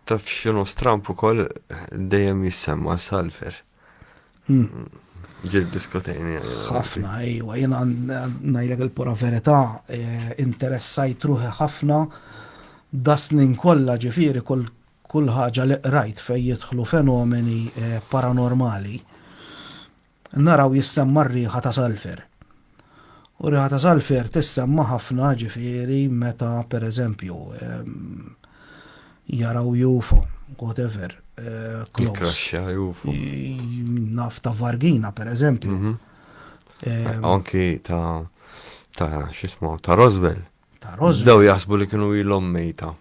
Taf xinu strampu kol dejjem jissemma salver. Hmm. Ġil diskutejni. ħafna, ejwa, jena najlek il-pura verità, eh, interessajt ruħi ħafna dasnin kolla ġifiri kull ħaġa li qrajt fej jidħlu fenomeni eh, paranormali. Naraw jissemma r-riħa ta' salfer. U r-riħa ta' salfer tissemma ħafna ġifieri meta pereżempju jaraw UFO, whatever, close. Jikraxxa UFO. Naf ta' vargina pereżempju. Mhm. Anki ta' ta' x'ismu ta' Roswell. Ta' Roswell. Daw jaħsbu li kienu ilhom mejta.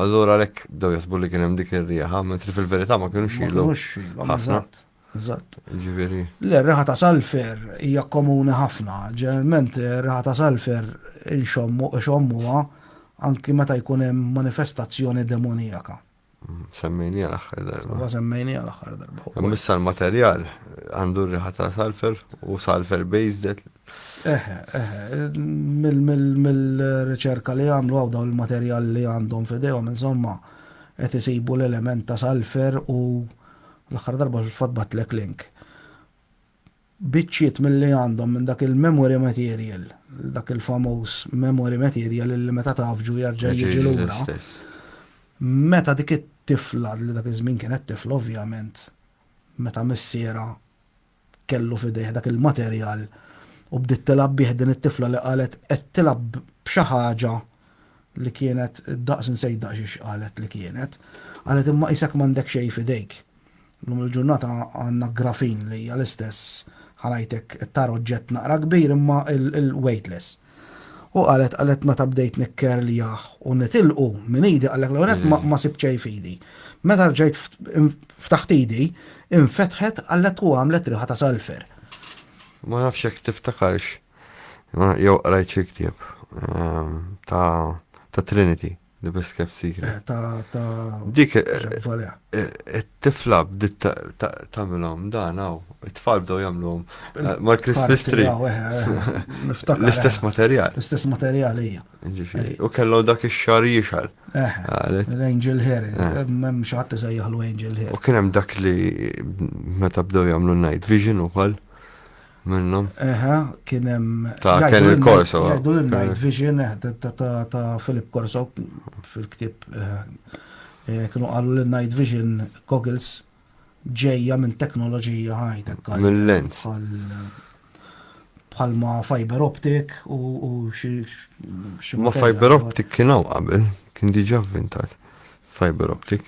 Allura lek daw jaħsbu li kien hemm dik ir-riħa, mentri fil-verità ma kienux ilhom. Ħafna. Eżatt. Ġifieri. Le, r-riħa ta' salfer hija komuni ħafna. Ġeneralment ir-riħa ta' salfer inxommu ixommuha anki meta jkun hemm manifestazzjoni demonijaka. Semmejnija l-aħħar darba. Ma semmejnija l-aħħar darba. Missa l-materjal għandu r-riħa ta' salfer u salfer based. Eħe, eħe, mill-riċerka li għamlu għaw dawn il-materjal li għandhom fidejhom, insomma, qed isibu l-element ta' salfer u L-aħħar darba fil-fatt bgħattlek link. Biċċiet milli għandhom minn dak il-memory material, dak il-famuż memory material li meta tafġu jerġa' jiġi lura. Meta dik it-tifla li dak iż-żmien kienet tifla ovvjament, meta missierha kellu f'idejh dak il-materjal u bdiet tilgħab bih din it-tifla li qalet qed tilgħab b'xi ħaġa li kienet daqs insejt daqs xiex qalet li kienet. Qalet imma qisek m'għandek xejn f'idejk. Llum il-ġurnata għandna grafin li hija l-istess ħa ngħidlek it-tar oġġett naqra kbir imma il-weightless. U qalet qalet meta bdejt nikkerljah u nitilqu minn idi qal l-ewwel nett ma ma sibt xejn f'idi. Meta rġajt ftaħt idi, infetħet qalet u għamlet riħa ta' salfer. Ma nafx jekk tiftakarx jew qrajt xi ktieb ta' Trinity. The best kept secret. Ta' ta' Dik Jacques Valea. it-tifla bdiet ta- ta- tagħmilhom dan hawn. It-tfal bdew jagħmluhom eh, mal-Christmas Parti, tree. jaw, eh, eh, niftakar, L-istess eh, materjal. L-istess materjal hija. Ġifieri. U kellhom dak ix-xar jixal. Eh, Għalet. l-Angel Hair, Eh. hemm xi ħadd iżejjaħlu Angel U Hair. kien hemm dak li meta bdew jagħmlu night vision ukoll. Minnhom? Eħe, kien hemm. Ta' Ken il Corso. Jgħidu l-Night Vision ta' Philip Corso fil-ktieb. Kienu qalu li Night Vision goggles ġejja minn teknoloġija ħajtek. Mill-lens. Bħalma fiber optic u xi. Ma fiber optic kien hawn qabel, kien diġà vvintat. Fiber optic.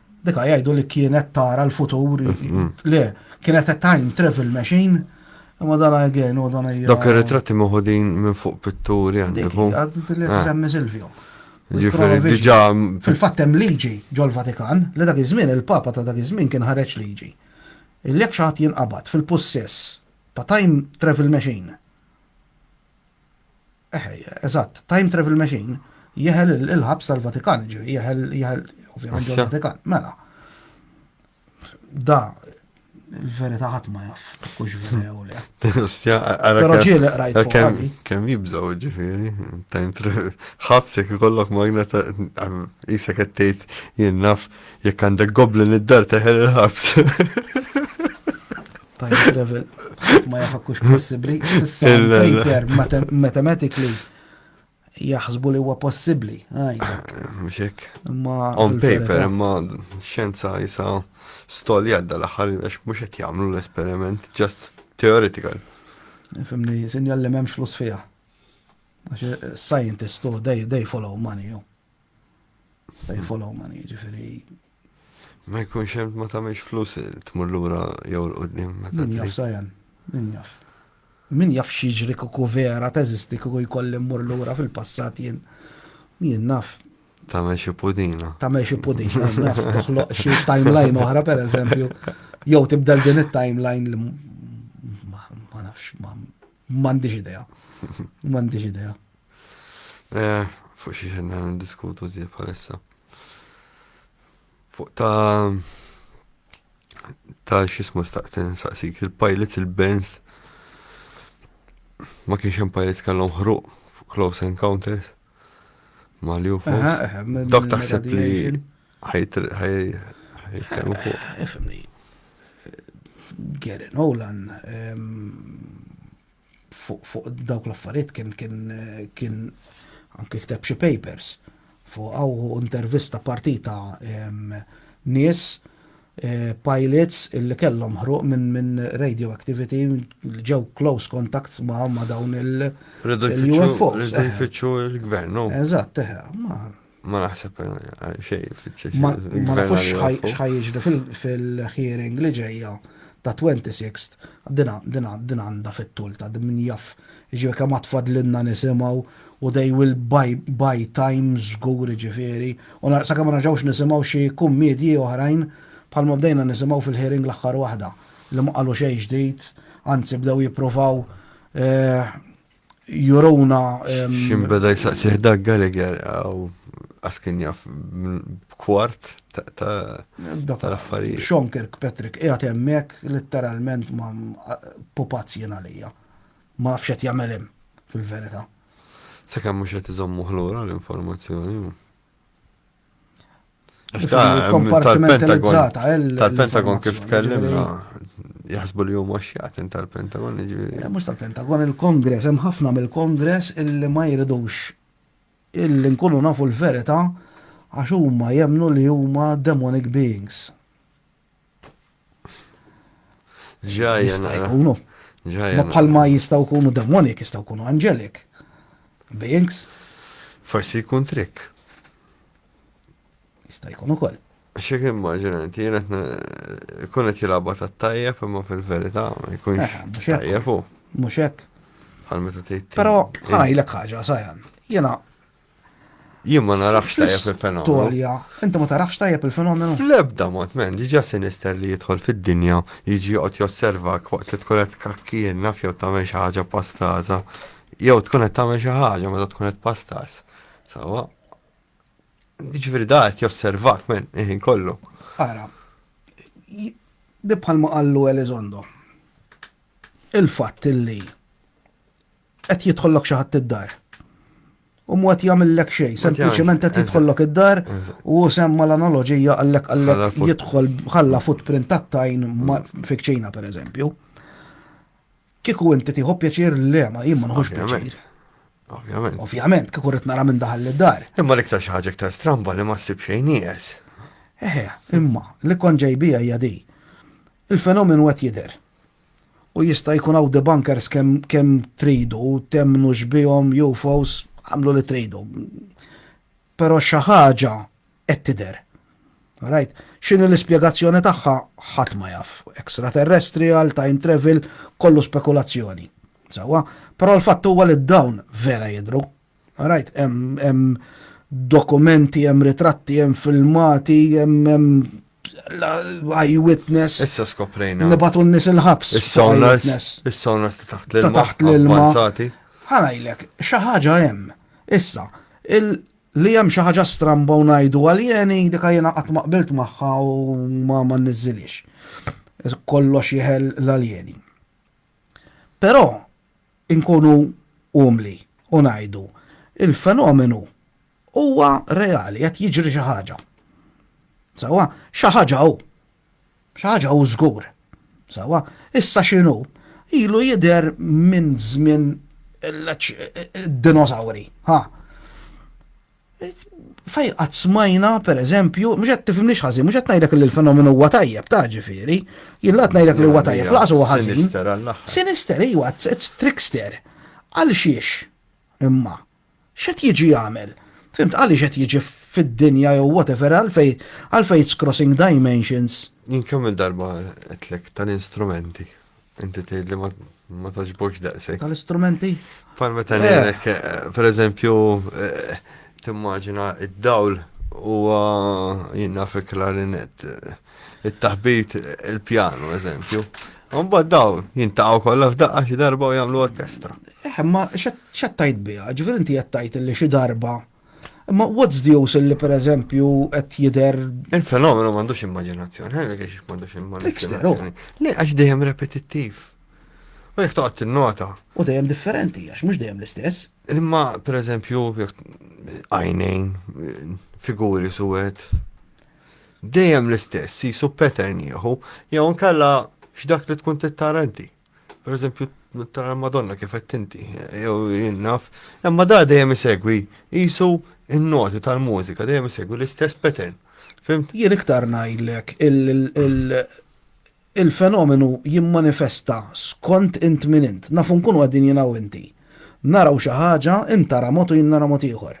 Dika jgħidu li kienet tara l-futur, le, kienet a time travel machine, imma dan għajgen u dan għajgen. Dok il-ritratti muħudin minn fuq pitturi għandiku. Għaddi li semmi Silvio. Ġifiri, diġa. Fil-fattem liġi ġol-Vatikan, li dak iż-żmien il-Papa ta' dak iż-żmien kien ħareġ liġi. Il-lek xaħat jinqabad fil-possess ta' time travel machine. Eħe, eżatt, time travel machine jeħel il-ħabs tal-Vatikan, ġifieri jeħel jeħel ovvjament il-Vatikan. Mela. Da il-verità ħadd ma jaf, kux verew le. Ostja, Però ġieli qrajt fuq. Kemm jibżgħu ġifieri, time travel. Ħabsek ikollok magna ta' isek qed tgħid jien naf jekk għandek goblin id-dar teħel il-ħabs. Time travel, ma jafakux possibli, s'issa paper mathematically jaħsbu li huwa possibbli. Mxek. Ma. On paper, imma xenza jisa stoli għadda l-ħar, għax mux qed jagħmlu l-esperiment, just theoretical. Fimni, sinjal li memx flus fija. Għax eh, scientist, oh, they, they follow money, oh. They follow money, ġifiri, Ma jkunx hemm ma tagħmilx flus tmur lura jew 'l quddiem meta trid. Min jaf Sajan, min jaf. Min jaf x'jiġri kieku vera teżisti kieku jkolli mmur lura fil-passat jien. Jien naf. Tagħmel xi pudina. Tagħmel xi pudina, naf toħloq xi timeline oħra pereżempju. Jew tibdel din it-timeline li ma nafx m'għandix idea. M'għandix idea. Eh, fuq xi ħedna niddiskutu żjed bħalissa. Fuq ta' ta' xismu staqten saqsik il-pilots il-bands ma kienx hemm pilots kellhom ħruq fuq close encounters ma' li Dok taħseb li ħajt ħajtkellmu fuq. Ifimni. Gary Nolan fuq dawk l-affarijiet kien kien kien anke kteb xi papers fuq u intervista partita nies eh, pilots illi kellhom ħruq minn min radioactivity ġew close contact ma' ma' dawn il-UFOs. Ridu jfittxu il-gvern, no? Eżatt, eh, ma' Ma naħseb xej fitxeċ. Ma nafux xħaj jiġri fil-hearing li ġejja ta' 26th, dina, dina, dina għanda fit-tul ta' min jaff, ġivir kam għatfad l-inna nisimaw u they will buy, buy time zgur ġifiri, u narqsa kam raġawx nisimaw xie kummedji oħrajn bħal ma bdejna nisimaw fil-hearing l-axħar wahda li ma qalu xej ġdijt, anzi bdew jiprovaw, eh, juruna. Xim beda jisaqsiħ dak Gallagher għaw askin jaf kwart tal-affarijiet. Sean Kirkpatrick qiegħed hemmhekk letteralment ma pupazz jien għalija. Ma nafx qed jagħmel hemm fil-verità. Sakemm mhux qed iżommu ħlura l-informazzjoni. Kompartimentalizzata. Eh, Tal-Pentagon kif tkellimna, jaħsbu li huma xjatin tal-Pentagon, ġifieri. Eh, mhux tal-Pentagon, il-Kongress, hemm ħafna mill-Kongress illi ma jridux illi nkunu nafu l-verità għax huma jemnu li huma demonic beings. Ġajja. Jista' jkunu. Ġajja. Ma bħalma jistgħu jkunu demonik, jistgħu jkunu angelic. Beings. Forsi jkun trick. Jista' jkun ukoll. Xi kien maġina, inti jien qed ikun qed jilgħabha tat-tajjeb imma fil-verità ma jkunx eh, tajjeb hu. Mhux hekk. Bħal meta tgħid. Però ħajlek ħaġa sajan. Jiena Jien ma narax tajjeb il-fenomenu. Tolja, inti ma tarax tajjeb il-fenomenu? Fl-ebda mod, men, diġà sinister li jidħol fid-dinja, jiġi joqgħod josservak waqt li tkun qed tkakkien naf jew tagħmel xi ħaġa pastaża. Jew tkun qed tagħmel xi ħaġa meta tkun qed pastaż. Sawa. Jiġifieri da qed josservak men, iħin kollu. Ara, di bħalma qallu Elizondo. Il-fatt illi Qed jidħollok xi ħadd id-dar. U mu qed jagħmillek xejn, sempliċement qed jidħollok id-dar u semma l-analoġija għallek għallek jidħol ħalla footprint tat-tajn fikċina pereżempju. Kieku inti tieħu pjaċir le ma jien ma nħux pjaċir. Ovvjament. Ovvjament, kieku rrid nara minn daħal id-dar. Imma l-iktar xi ħaġa iktar stramba li ma ssib xejn nieqes. Eħe, imma, li kon ġejbija hija di. Il-fenomenu qed jidher. U jista' jkun hawn debunkers kemm kemm tridu, temnux bihom, UFOs, agħmlu li tridu. Però xi ħaġa qed tidher. Right? X'inhi l-ispjegazzjoni tagħha ħadd ma jaf. Extraterrestrial, time travel, kollu spekulazzjoni. Sewwa, però l-fatt huwa li dawn vera jidhru. Rajt hemm dokumenti, hemm ritratti, hemm filmati, hemm eyewitness. Issa skoprejna. Nibatu n-nis il-ħabs. Is-sonars. Is-sonars ta' taħt l-ilma. Ta' taħt l-ilma. Ħanajlek, xaħġa hemm. Issa, li hemm xi ħaġa stramba u ngħidu għaljeni dika jiena qatt ma qbilt magħha u ma ma niżilix. Kollox jeħel l-aljeni. Però inkunu umli u ngħidu, il-fenomenu huwa reali, qed jiġri xi ħaġa. Sewwa? Xi ħaġa hu. Xi ħaġa hu żgur. Sewwa? Issa x'inhu? Ilu jidher minn żmien id-dinosawri. Ħa? Fej qatt smajna, per eżempju, mhux qed tifhimniex ħażin, mhux qed ngħidlek li l-fenomenu huwa tajjeb ta' ġifieri, jien laqgħet ngħidlek li huwa tajjeb, laqas huwa ħażin. Sinister għall-aħħar. Sinister, iwa, it's trickster. Għal xiex? Imma. X'qed jiġi jagħmel? Fimt għaliex qed jiġi fid-dinja jew whatever għalfej għalfej it's crossing dimensions. Jien kemm darba qedlek tal-instrumenti. Inti tgħid li ma taġbokx daqshekk. Tal-istrumenti? Bħal meta ngħidlek, eh. eh, pereżempju, eh, timmaġina id-dawl huwa jinnaf il-klarinet, it-taħbit il-pjanu, eżempju. Umba daw, jintaqaw kollha f'daqqa xi darba u jagħmlu orkestra. Eh, ma xattajt biha, ġifier inti jattajt li xi darba Imma what's the use li per eżempju qed jidher. Il-fenomenu m'għandux immaġinazzjoni, ħajna kiex m'għandux immaġinazzjoni. Le għax dejjem repetittiv. U jekk toqgħod tinnota. U dejjem differenti għax mhux dejjem l-istess. Imma per eżempju għajnejn, figuri suwed. Dejjem l-istess, jisu pattern jieħu, jew nkella x'dak li tkun tittarenti. Per eżempju, tara l-Madonna kif qed tinti, jew jien naf, imma da dejjem isegwi jisu n-noti tal-mużika, dejjem isegwi l-istess pattern. Fimt? Jien iktar ngħidlek il-fenomenu jimmanifesta skont int min int. Nafu nkunu qegħdin jiena u inti. Naraw xi ħaġa, int tara mod u jien nara mod ieħor.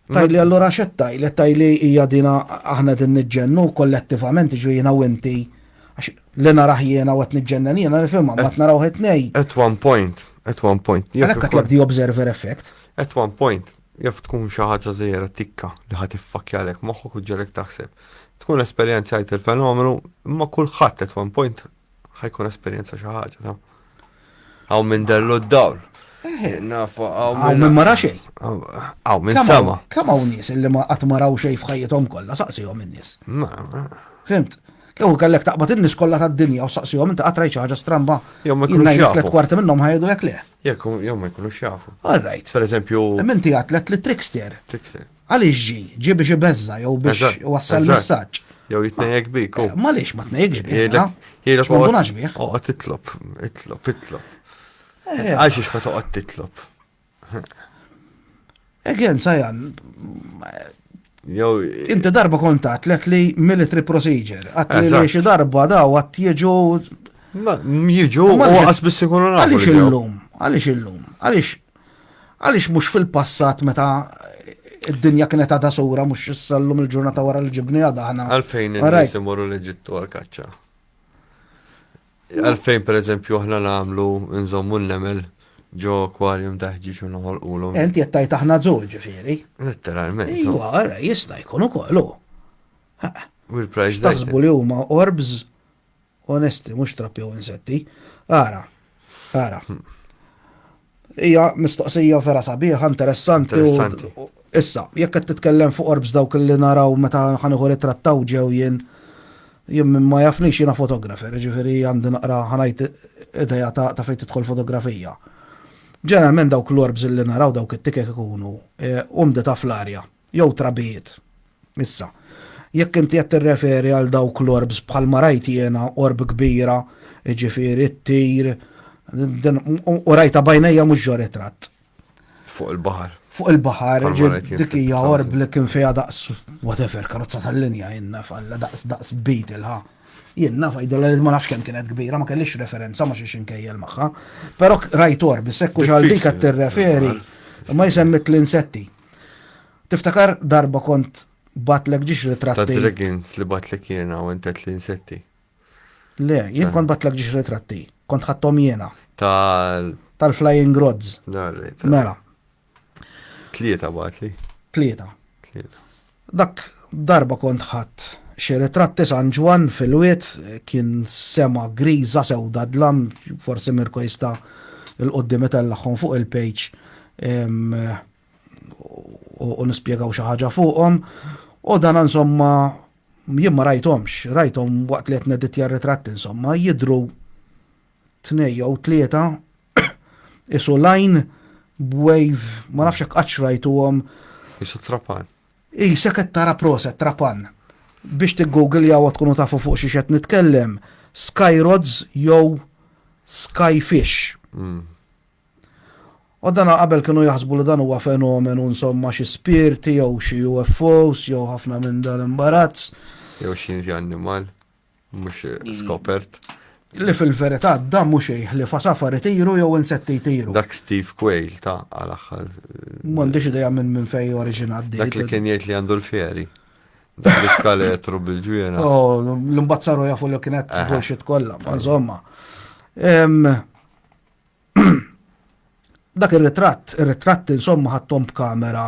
Tajli allura xed tajli, tajli hija dina aħna din niġġennu kollettivament ġvijina u inti għax li naraħ jiena u qed niġġennen jiena nifhimha ma naraw qed nej. At one point, at one point. Għalhekk għatlek di observer effect. At one point, jaf tkun xi ħaġa żejra tikka li ħadd iffakjalek moħħok u ġelek taħseb. Tkun esperjenzajt il-fenomenu, imma kulħadd at one point ħajkun esperjenza xi ħaġa ta' għaw minn dellu d-dawl. Nafu għaw minn. Għaw mara xej. Għaw minn sama. Kam għaw nis illi ma għat maraw xej fħajjitom kolla, saqsijom minn nis. Fimt? Kew kellek taqbad in-nies kollha tad-dinja u saqsihom inti qatt rajt xi ħaġa stramba. Jew ma jkunux jafu. Tliet kwarti minnhom ħajdu lek le. Jekk jew ma jkunux jafu. All right. Per eżempju. Minti għatlet li trickster. Trickster. Għaliex ġi? Ġi biex ibeżża jew biex Eżatt, iwassal eżatt. messaġġ. Jew jitnejjek bik. u- Ma lix ma tnejkx bih. Jgħidlek, ah. jgħidlek X'ma ndunax bih. oqgħod- oqgħod titlob, itlob, itlob. Eh. Għal xiex ma toqgħod titlob. Again, Sajan, Jew inti darba kontat lek li military procedure. Għat li Eżatt. li xi darba daw għat jieġu. ma- jiġu u Ma lix- għas biss ikunu nafu. Għaliex li ġew. illum? Għaliex illum? Għaliex Għaliex mhux fil-passat meta id-dinja kienet għadha sura mhux issallum il-ġurnata wara li ġibni għadha aħna. Għalfejn in-nies imorru l-Eġittu għal-kaċċa. Għalfejn pereżempju aħna nagħmlu nżommu n-nemel ġo aquarium taħġi xu noħol ulu. Enti jettajt aħna zol ġifiri. Letteralment. Iwa, għara, jista jkun u kollu. U l-price Taħsbu li huma orbs Onesti, mhux trapp jew insetti. Ara, ara. Hija mistoqsija vera sabiħa, interessanti. Interessanti. Issa, jekk qed titkellem fuq orbs dawk li naraw meta ħanieħu li trattaw ġew jien jien minn ma jafnix jiena fotografer, ġifieri għandi naqra ħanajt ideja ta' fejn tidħol fotografija. Ġeneralment dawk l-orbs li naraw dawk it-tikek ikunu umdi ta' fl-arja. jew trabijiet. Issa, jekk inti qed tirreferi għal dawk l-orbs bħalma rajt jiena orb kbira, jiġifieri ttir, u rajtha b'għajnejja mhux ġo ritratt. Fuq il-baħar. Fuq il-baħar, dik hija orb li kien fiha daqs whatever, karozza tal-linja jenna falla daqs daqs bejt il-ħa. Jien naf għidilha li ma nafx kemm kienet kbira, ma kellix referenza ma xiex inkejjel magħha. Però rajt orb, sekku xal dik qed tirreferi, ma jsemmet l-insetti. Tiftakar darba kont batlek ġiex ritratti. Ta' dragons li batlek jena u intet li insetti. Le, jien kont batlek ġiex ritratti. Kont ħattom jena. Tal. Tal-flying rods. Mela. Tlieta batli. Tlieta. Tlieta. Dak darba kont ħadt xi ritratti San Ġwann fil-wied, kien sema griża sewda dlam, forsi Mirko jista' 'l quddiem itellagħhom fuq il-page u nispjegaw xi ħaġa fuqhom, u dan insomma jien ma rajthomx, rajthom waqt li qed nedittja r-ritratti insomma, jidhru tnej jew tlieta isu lajn b'wave, ma nafx hekk qatt xrajtuhom. Isu trapan. Isa qed tara proset trapan. Biex tiggoogle jaw tkunu tafu fuq xi qed nitkellem, Skyrods jew Skyfish. Mm. U dan qabel kienu jaħsbu li dan huwa fenomenu insomma xi spirti jew xi UFOs jew ħafna minn dan imbarazz. Jew xi inti annimal. mhux mm. skopert. Li fil-verità da mhux xejn ħlifa safar itiru jew insetti jtiru. Dak Steve Quayle ta' għal aħħar. M'għandix idea minn minn fej oriġinat Dak li kien jgħid li għandu l-fjeri. Dak li skaletru bil-ġwiena. Oh, l-imbazzaru jafu li kienet eh. bullshit kollha, ma' insomma. Dak ir-ritratt, ir-ritratti insomma ħadthom b'kamera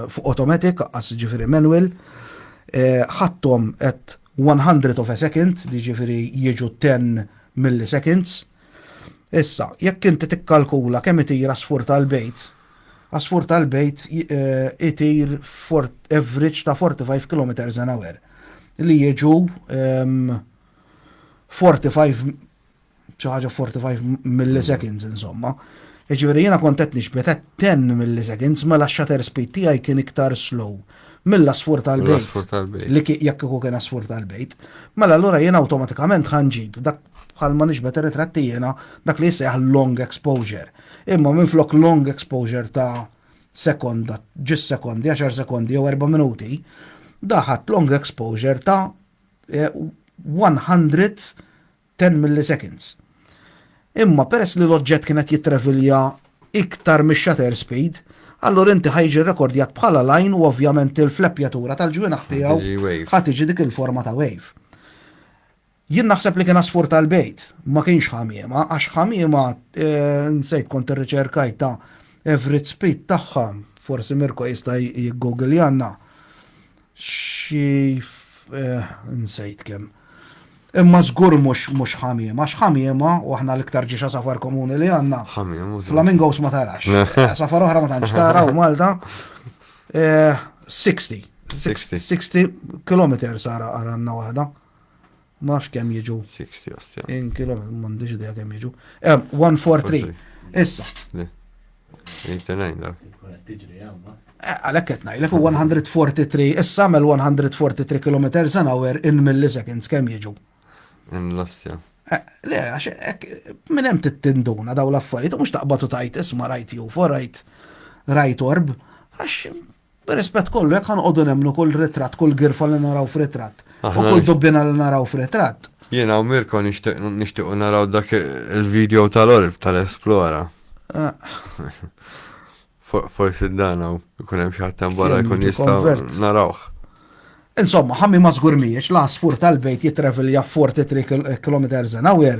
fuq automatic, aqqas ġifieri manual, ħadthom at one hundredth of a second, li ġifieri jiġu ten milliseconds. Issa, jekk inti tikkalkula kemm itir għasfur tal-bejt, għasfur tal-bejt itir average ta' 45 kilometers an hour, li jiġu 45 xi ħaġa 45 milliseconds insomma. Jiġifieri jiena kont qed nixbet 10 milliseconds mela x-shutter speed tiegħi kien iktar slow mill-asfur tal-bejt. Li jekk ikun kien asfur tal-bejt. Mela allura jiena awtomatikament ħanġib dak bħal ma nixbet ritratti jiena dak li jissejħ long exposure. Imma minn flok long exposure ta' sekonda, ġis sekondi, 10 sekondi jew 4 minuti, daħat long exposure ta' 100 eh, 10 milliseconds. Imma peress li l-oġġett kien qed jittravilja iktar mix-shutter speed, allura inti ħa jiġi rrekordjat bħala line u ovvjament il-fleppjatura tal-ġwienaħ tiegħu ħa tiġi dik il-forma ta' wave. Jien naħseb li kien għasfur tal-bejt, ma kienx ħamiema, għax ħamiema eh, nsejt kont irriċerkajt ta' average speed tagħha, forsi Mirko jista' jiggoogiljanna. xi nsejt kemm. Imma żgur mhux mhux ħamiema, għax ħamiema, u aħna l-iktar ġiex għasafar komuni li għandna, flamingos ma tarax. Għasafar oħra ma tantx tara u Malta. 60. 60 kilometers ara għandna waħda. Ma nafx kemm jiġu. 60 osta. In kilometri, m'għandix idea kemm jiġu. 143. Issa. Eh, għalek qed ngħidlek 143 issa għamel 143 km an hour in milliseconds kemm jiġu. In l-ostja. Eh, le, għax minn hemm tittinduna daw l-affarijiet mhux taqbad u tajt isma' rajt ju for rajt rajt orb għax Bir-rispett kollu, jekk ħanqogħdu nemmnu kull ritratt, kull girfa li naraw f'ritratt, u kull dubbiena li naraw f'ritratt. Jiena u Mirko nixtiequ naraw dak il-video tal-orb tal-Esplora. Forsi dan hawn ikun hemm xi ħadd hemm barra jkun jista' narawh. Insomma, ħammi ma żgur mhijiex l-għasfur tal-bejt jitrevilja 43 km an hour.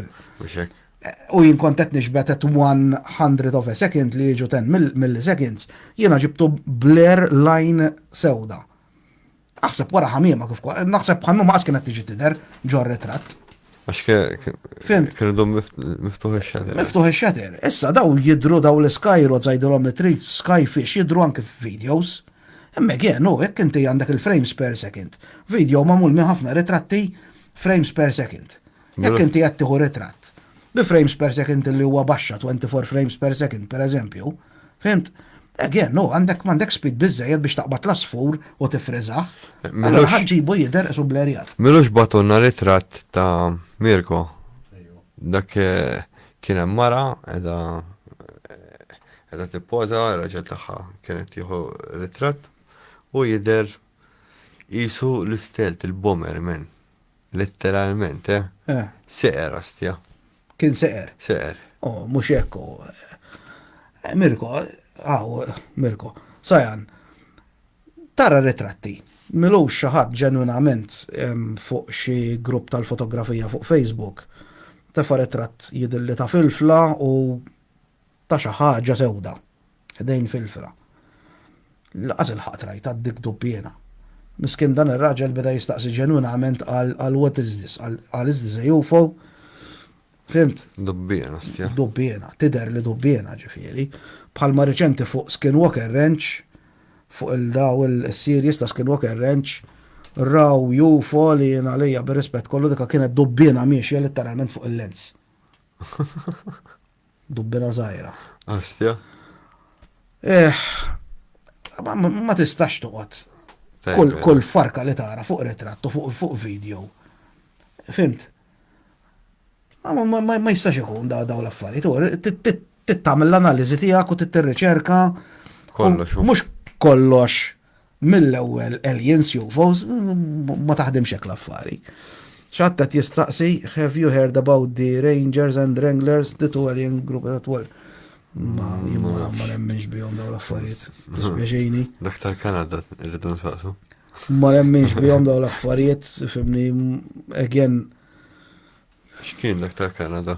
u jien kont qed nixbet at one hundred of a second li jiġu ten milliseconds, jiena ġibtu blur line sewda. Aħseb wara ħamiema kif naħseb ħamiema qas kienet tiġi tidher ġor ritratt. Għax kienu dom miftuħ il-xater. Miftuħ il-xater. Issa daw jidru daw l-skajru zajdilom it-tri skyfish jidru anke f-videos. Emme għen, u jek inti għandek il-frames per second. Video mamul minn ħafna ritratti frames per second. Jekk inti qed tieħu ritratt bi frames per second li huwa baxxa 24 frames per second pereżempju, fimt? Again, no, għandek m'għandek speed biżejjed biex taqbad l-asfur u tifriżaħ. Mela ħaġġibu jidher isu blerjat. Milux batunna ritratt ta' Mirko. Dak eh, kien hemm mara edha eh, edha tippoża raġel tagħha kienet tieħu ritratt u jidher qisu l-istelt il-bomber men. Letteralment, eh? Eh. Seqer, astja. Kien seqer. Seqer. Oh, mux ekku. Eh, Mirko, għaw, Mirko, sajan, tara ritratti. Milux xaħat ġenwinament fuq xi grupp tal-fotografija fuq Facebook. Tefa ritratt jidilli ta' filfla u ta' xaħġa sewda. Ħdejn filfla. Laqas ilħaqt rajtha d-dikdub jiena. Miskin dan ir-raġel beda jistaqsi ġenwinament għal what is this? Għal is this a UFO? Fimt? Dubbiena, stja. Dubbiena, tider li dubbiena ġifieri. Bħalma riċenti fuq Skinwalker Ranch, fuq il-daw il-series ta' Skinwalker Ranch, raw UFO li jena lejja bir-rispett kollu dika kienet dubbiena miexja literalment fuq il-lens. Dubbina żgħira. Ostja. Eh, ma tistax toqgħod. Kull farka li tara fuq ritratt u fuq video. Fimt? Ma jistax ikun da daw l-affarijiet. Tittamil l-analiżi tiegħek u tittirriċerka. Kollox. Mhux kollox Mill-ewwel Alien Suvos ma taħdimx hekk l-affari. Xi ħadd qed jistaqsi have you heard about the Rangers and Wranglers the two alien group that were Ma jimma ma nemminx bihom daw l-affarijiet. Dispjaċini. Dak tal-Kanada rridu nsaqsu. Ma nemminx bihom daw l-affarijiet, fimni, again, X'kien dak tal-Kanada?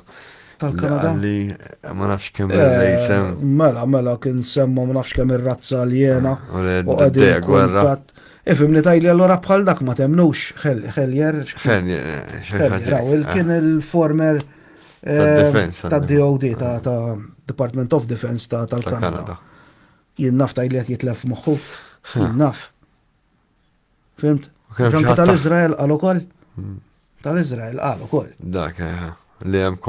Tal-Kanada? Li ma nafx kemm eh, il-rejsem. Mela, mela, kien semma ma nafx kemm ir-razza li jena. U għaddi gwerra. Ifim li tajli allora bħal dak ma temnux, Heljer. Heljer, eh, kien eh. il-former ta' DOD, ta' Department of Defense tal-Kanada. Jien naf tajli għet jitlef moħħu. Jien naf. Fimt? Ġanka tal-Izrael għal ukoll? Hmm. Tal-Izrael għal ukoll. Dak, eh, li hemm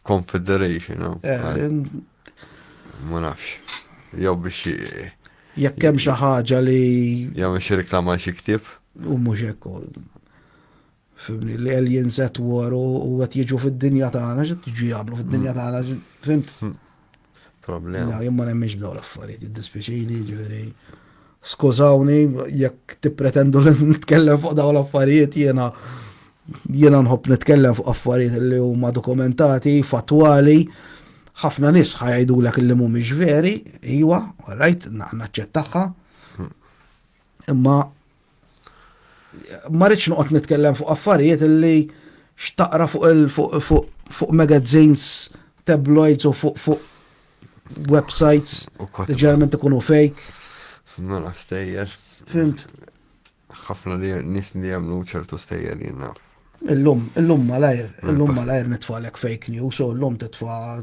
confederation. Oh. Eh, ma nafx. Jew biex. Jekk hemm xi ħaġa li. Jew biex reklama xi ktieb. U mhux hekk. Fimni, l-aliens at war u għet jiġu fid-dinja tagħna, xi tiġu jagħmlu fid-dinja tagħna, fimt? Hmm. Problem. No, jien ma nemmix dawn l-affarijiet, id-dispiċini, ġifieri. Skużawni, jekk tippretendu li nitkellem fuq dawn l-affarijiet jiena jiena nħobb nitkellem fuq affarijiet li huma dokumentati, fattwali, ħafna nis ħajdu l li mhumiex veri, iwa, rajt, naċċettaħħa. Imma ma rridx noqgħod nitkellem fuq affarijiet li xtaqra fuq il fuq magazines tabloids u fuq fuq websites li ġeneralment ikunu fake. Mela stejjer. Fimt. Ħafna li nis li jagħmlu ċertu stejjer jinnaf. Illum, illum malajr, illum malajr nitfalek fake news u illum titfa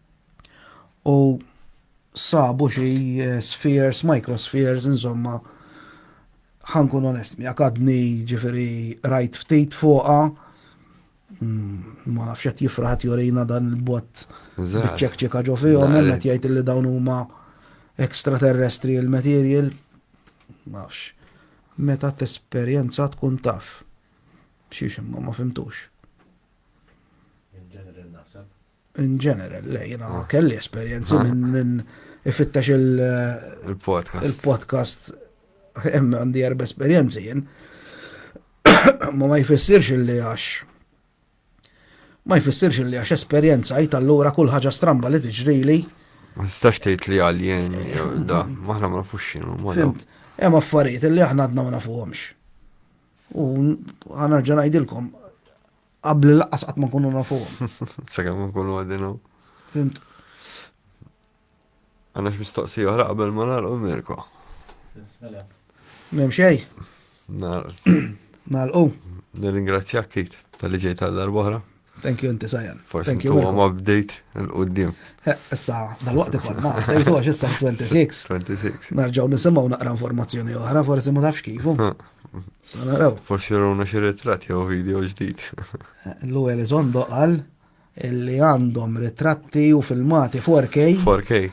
u sabu xi eh, spheres, microspheres, insomma, ħankun onest mi għadni ġifiri rajt ftit fuqa, mm, ma nafx qed jifraħat jorina dan il-bot ċekċika ġo fihom, qed jgħid li dawn huma extraterrestri il-material, nafx. Meta t-esperjenza tkun taf. Xiex imma ma fimtux. In general, le, jina ah. kelli esperienzi ah. minn min ifittex il-podcast. Il-podcast, hemm għandi erba esperienzi jien. Ma ma jfissirx li għax ma jfissirx li għax esperienza jt allura kull ħaġa stramba li tiġrili. Ma tistax tgħid li għaljen da, maħna ma nafux x'inhu. Fimt, hemm affarijiet li aħna għadna ma nafuhomx. U ħanerġa' ngħidilkom Qabli laqqas qatt ma nkunu nafuhom. Sakemm nkunu għadin hawn. Fimt. Għandek mistoqsija oħra qabel ma nagħlqu Mirko. Mem xej. Nagħlqu. Nirringrazzjak kit tal-li ġej tal-darba oħra. Thank you inti sajan. Forsi tu għam update l-qoddim. Issa, dal-waqt ikon, ma, dajtu għax issa 26. 26. Narġaw nisimaw naqra informazzjoni oħra, forsi ma tafx kifu. Sanaraw. Forsi runa xi ritratt jew video ġdid. Lu Elizondo qal li għandhom ritratti u filmati 4K. 4K.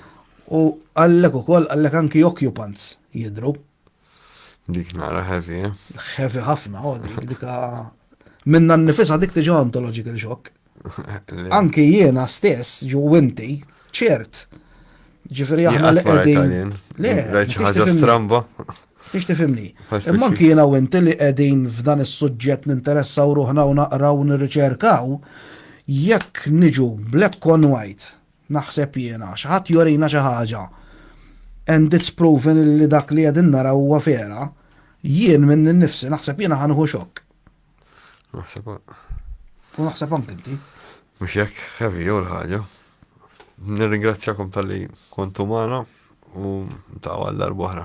U għallek ukoll għallek anki occupants jidru. Dik nara heavy, eh? Heavy ħafna, oh, dik dika minna nifisa dik tiġi ontological shock. Anki jiena stess, ġu inti, ċert. Ġifiri aħna li qegħdin. Le, rajt ħaġa stramba. Tix tifimni. Imma anki jiena u inti li qegħdin f'dan is-suġġett ninteressaw ruħna u naqraw nirriċerkaw, jekk niġu black on white, naħseb jiena, xaħat jorina xi ħaġa, and it's proven li dak li qegħdin naraw huwa vera, jien minn nifsi naħseb jiena ħanħu xokk. Naħseb. U naħseb anke inti. Mhux hekk heavy jew l-ħaġa. Nirringrazzjakom tal-li kontu magħna u ta' għal darbohra.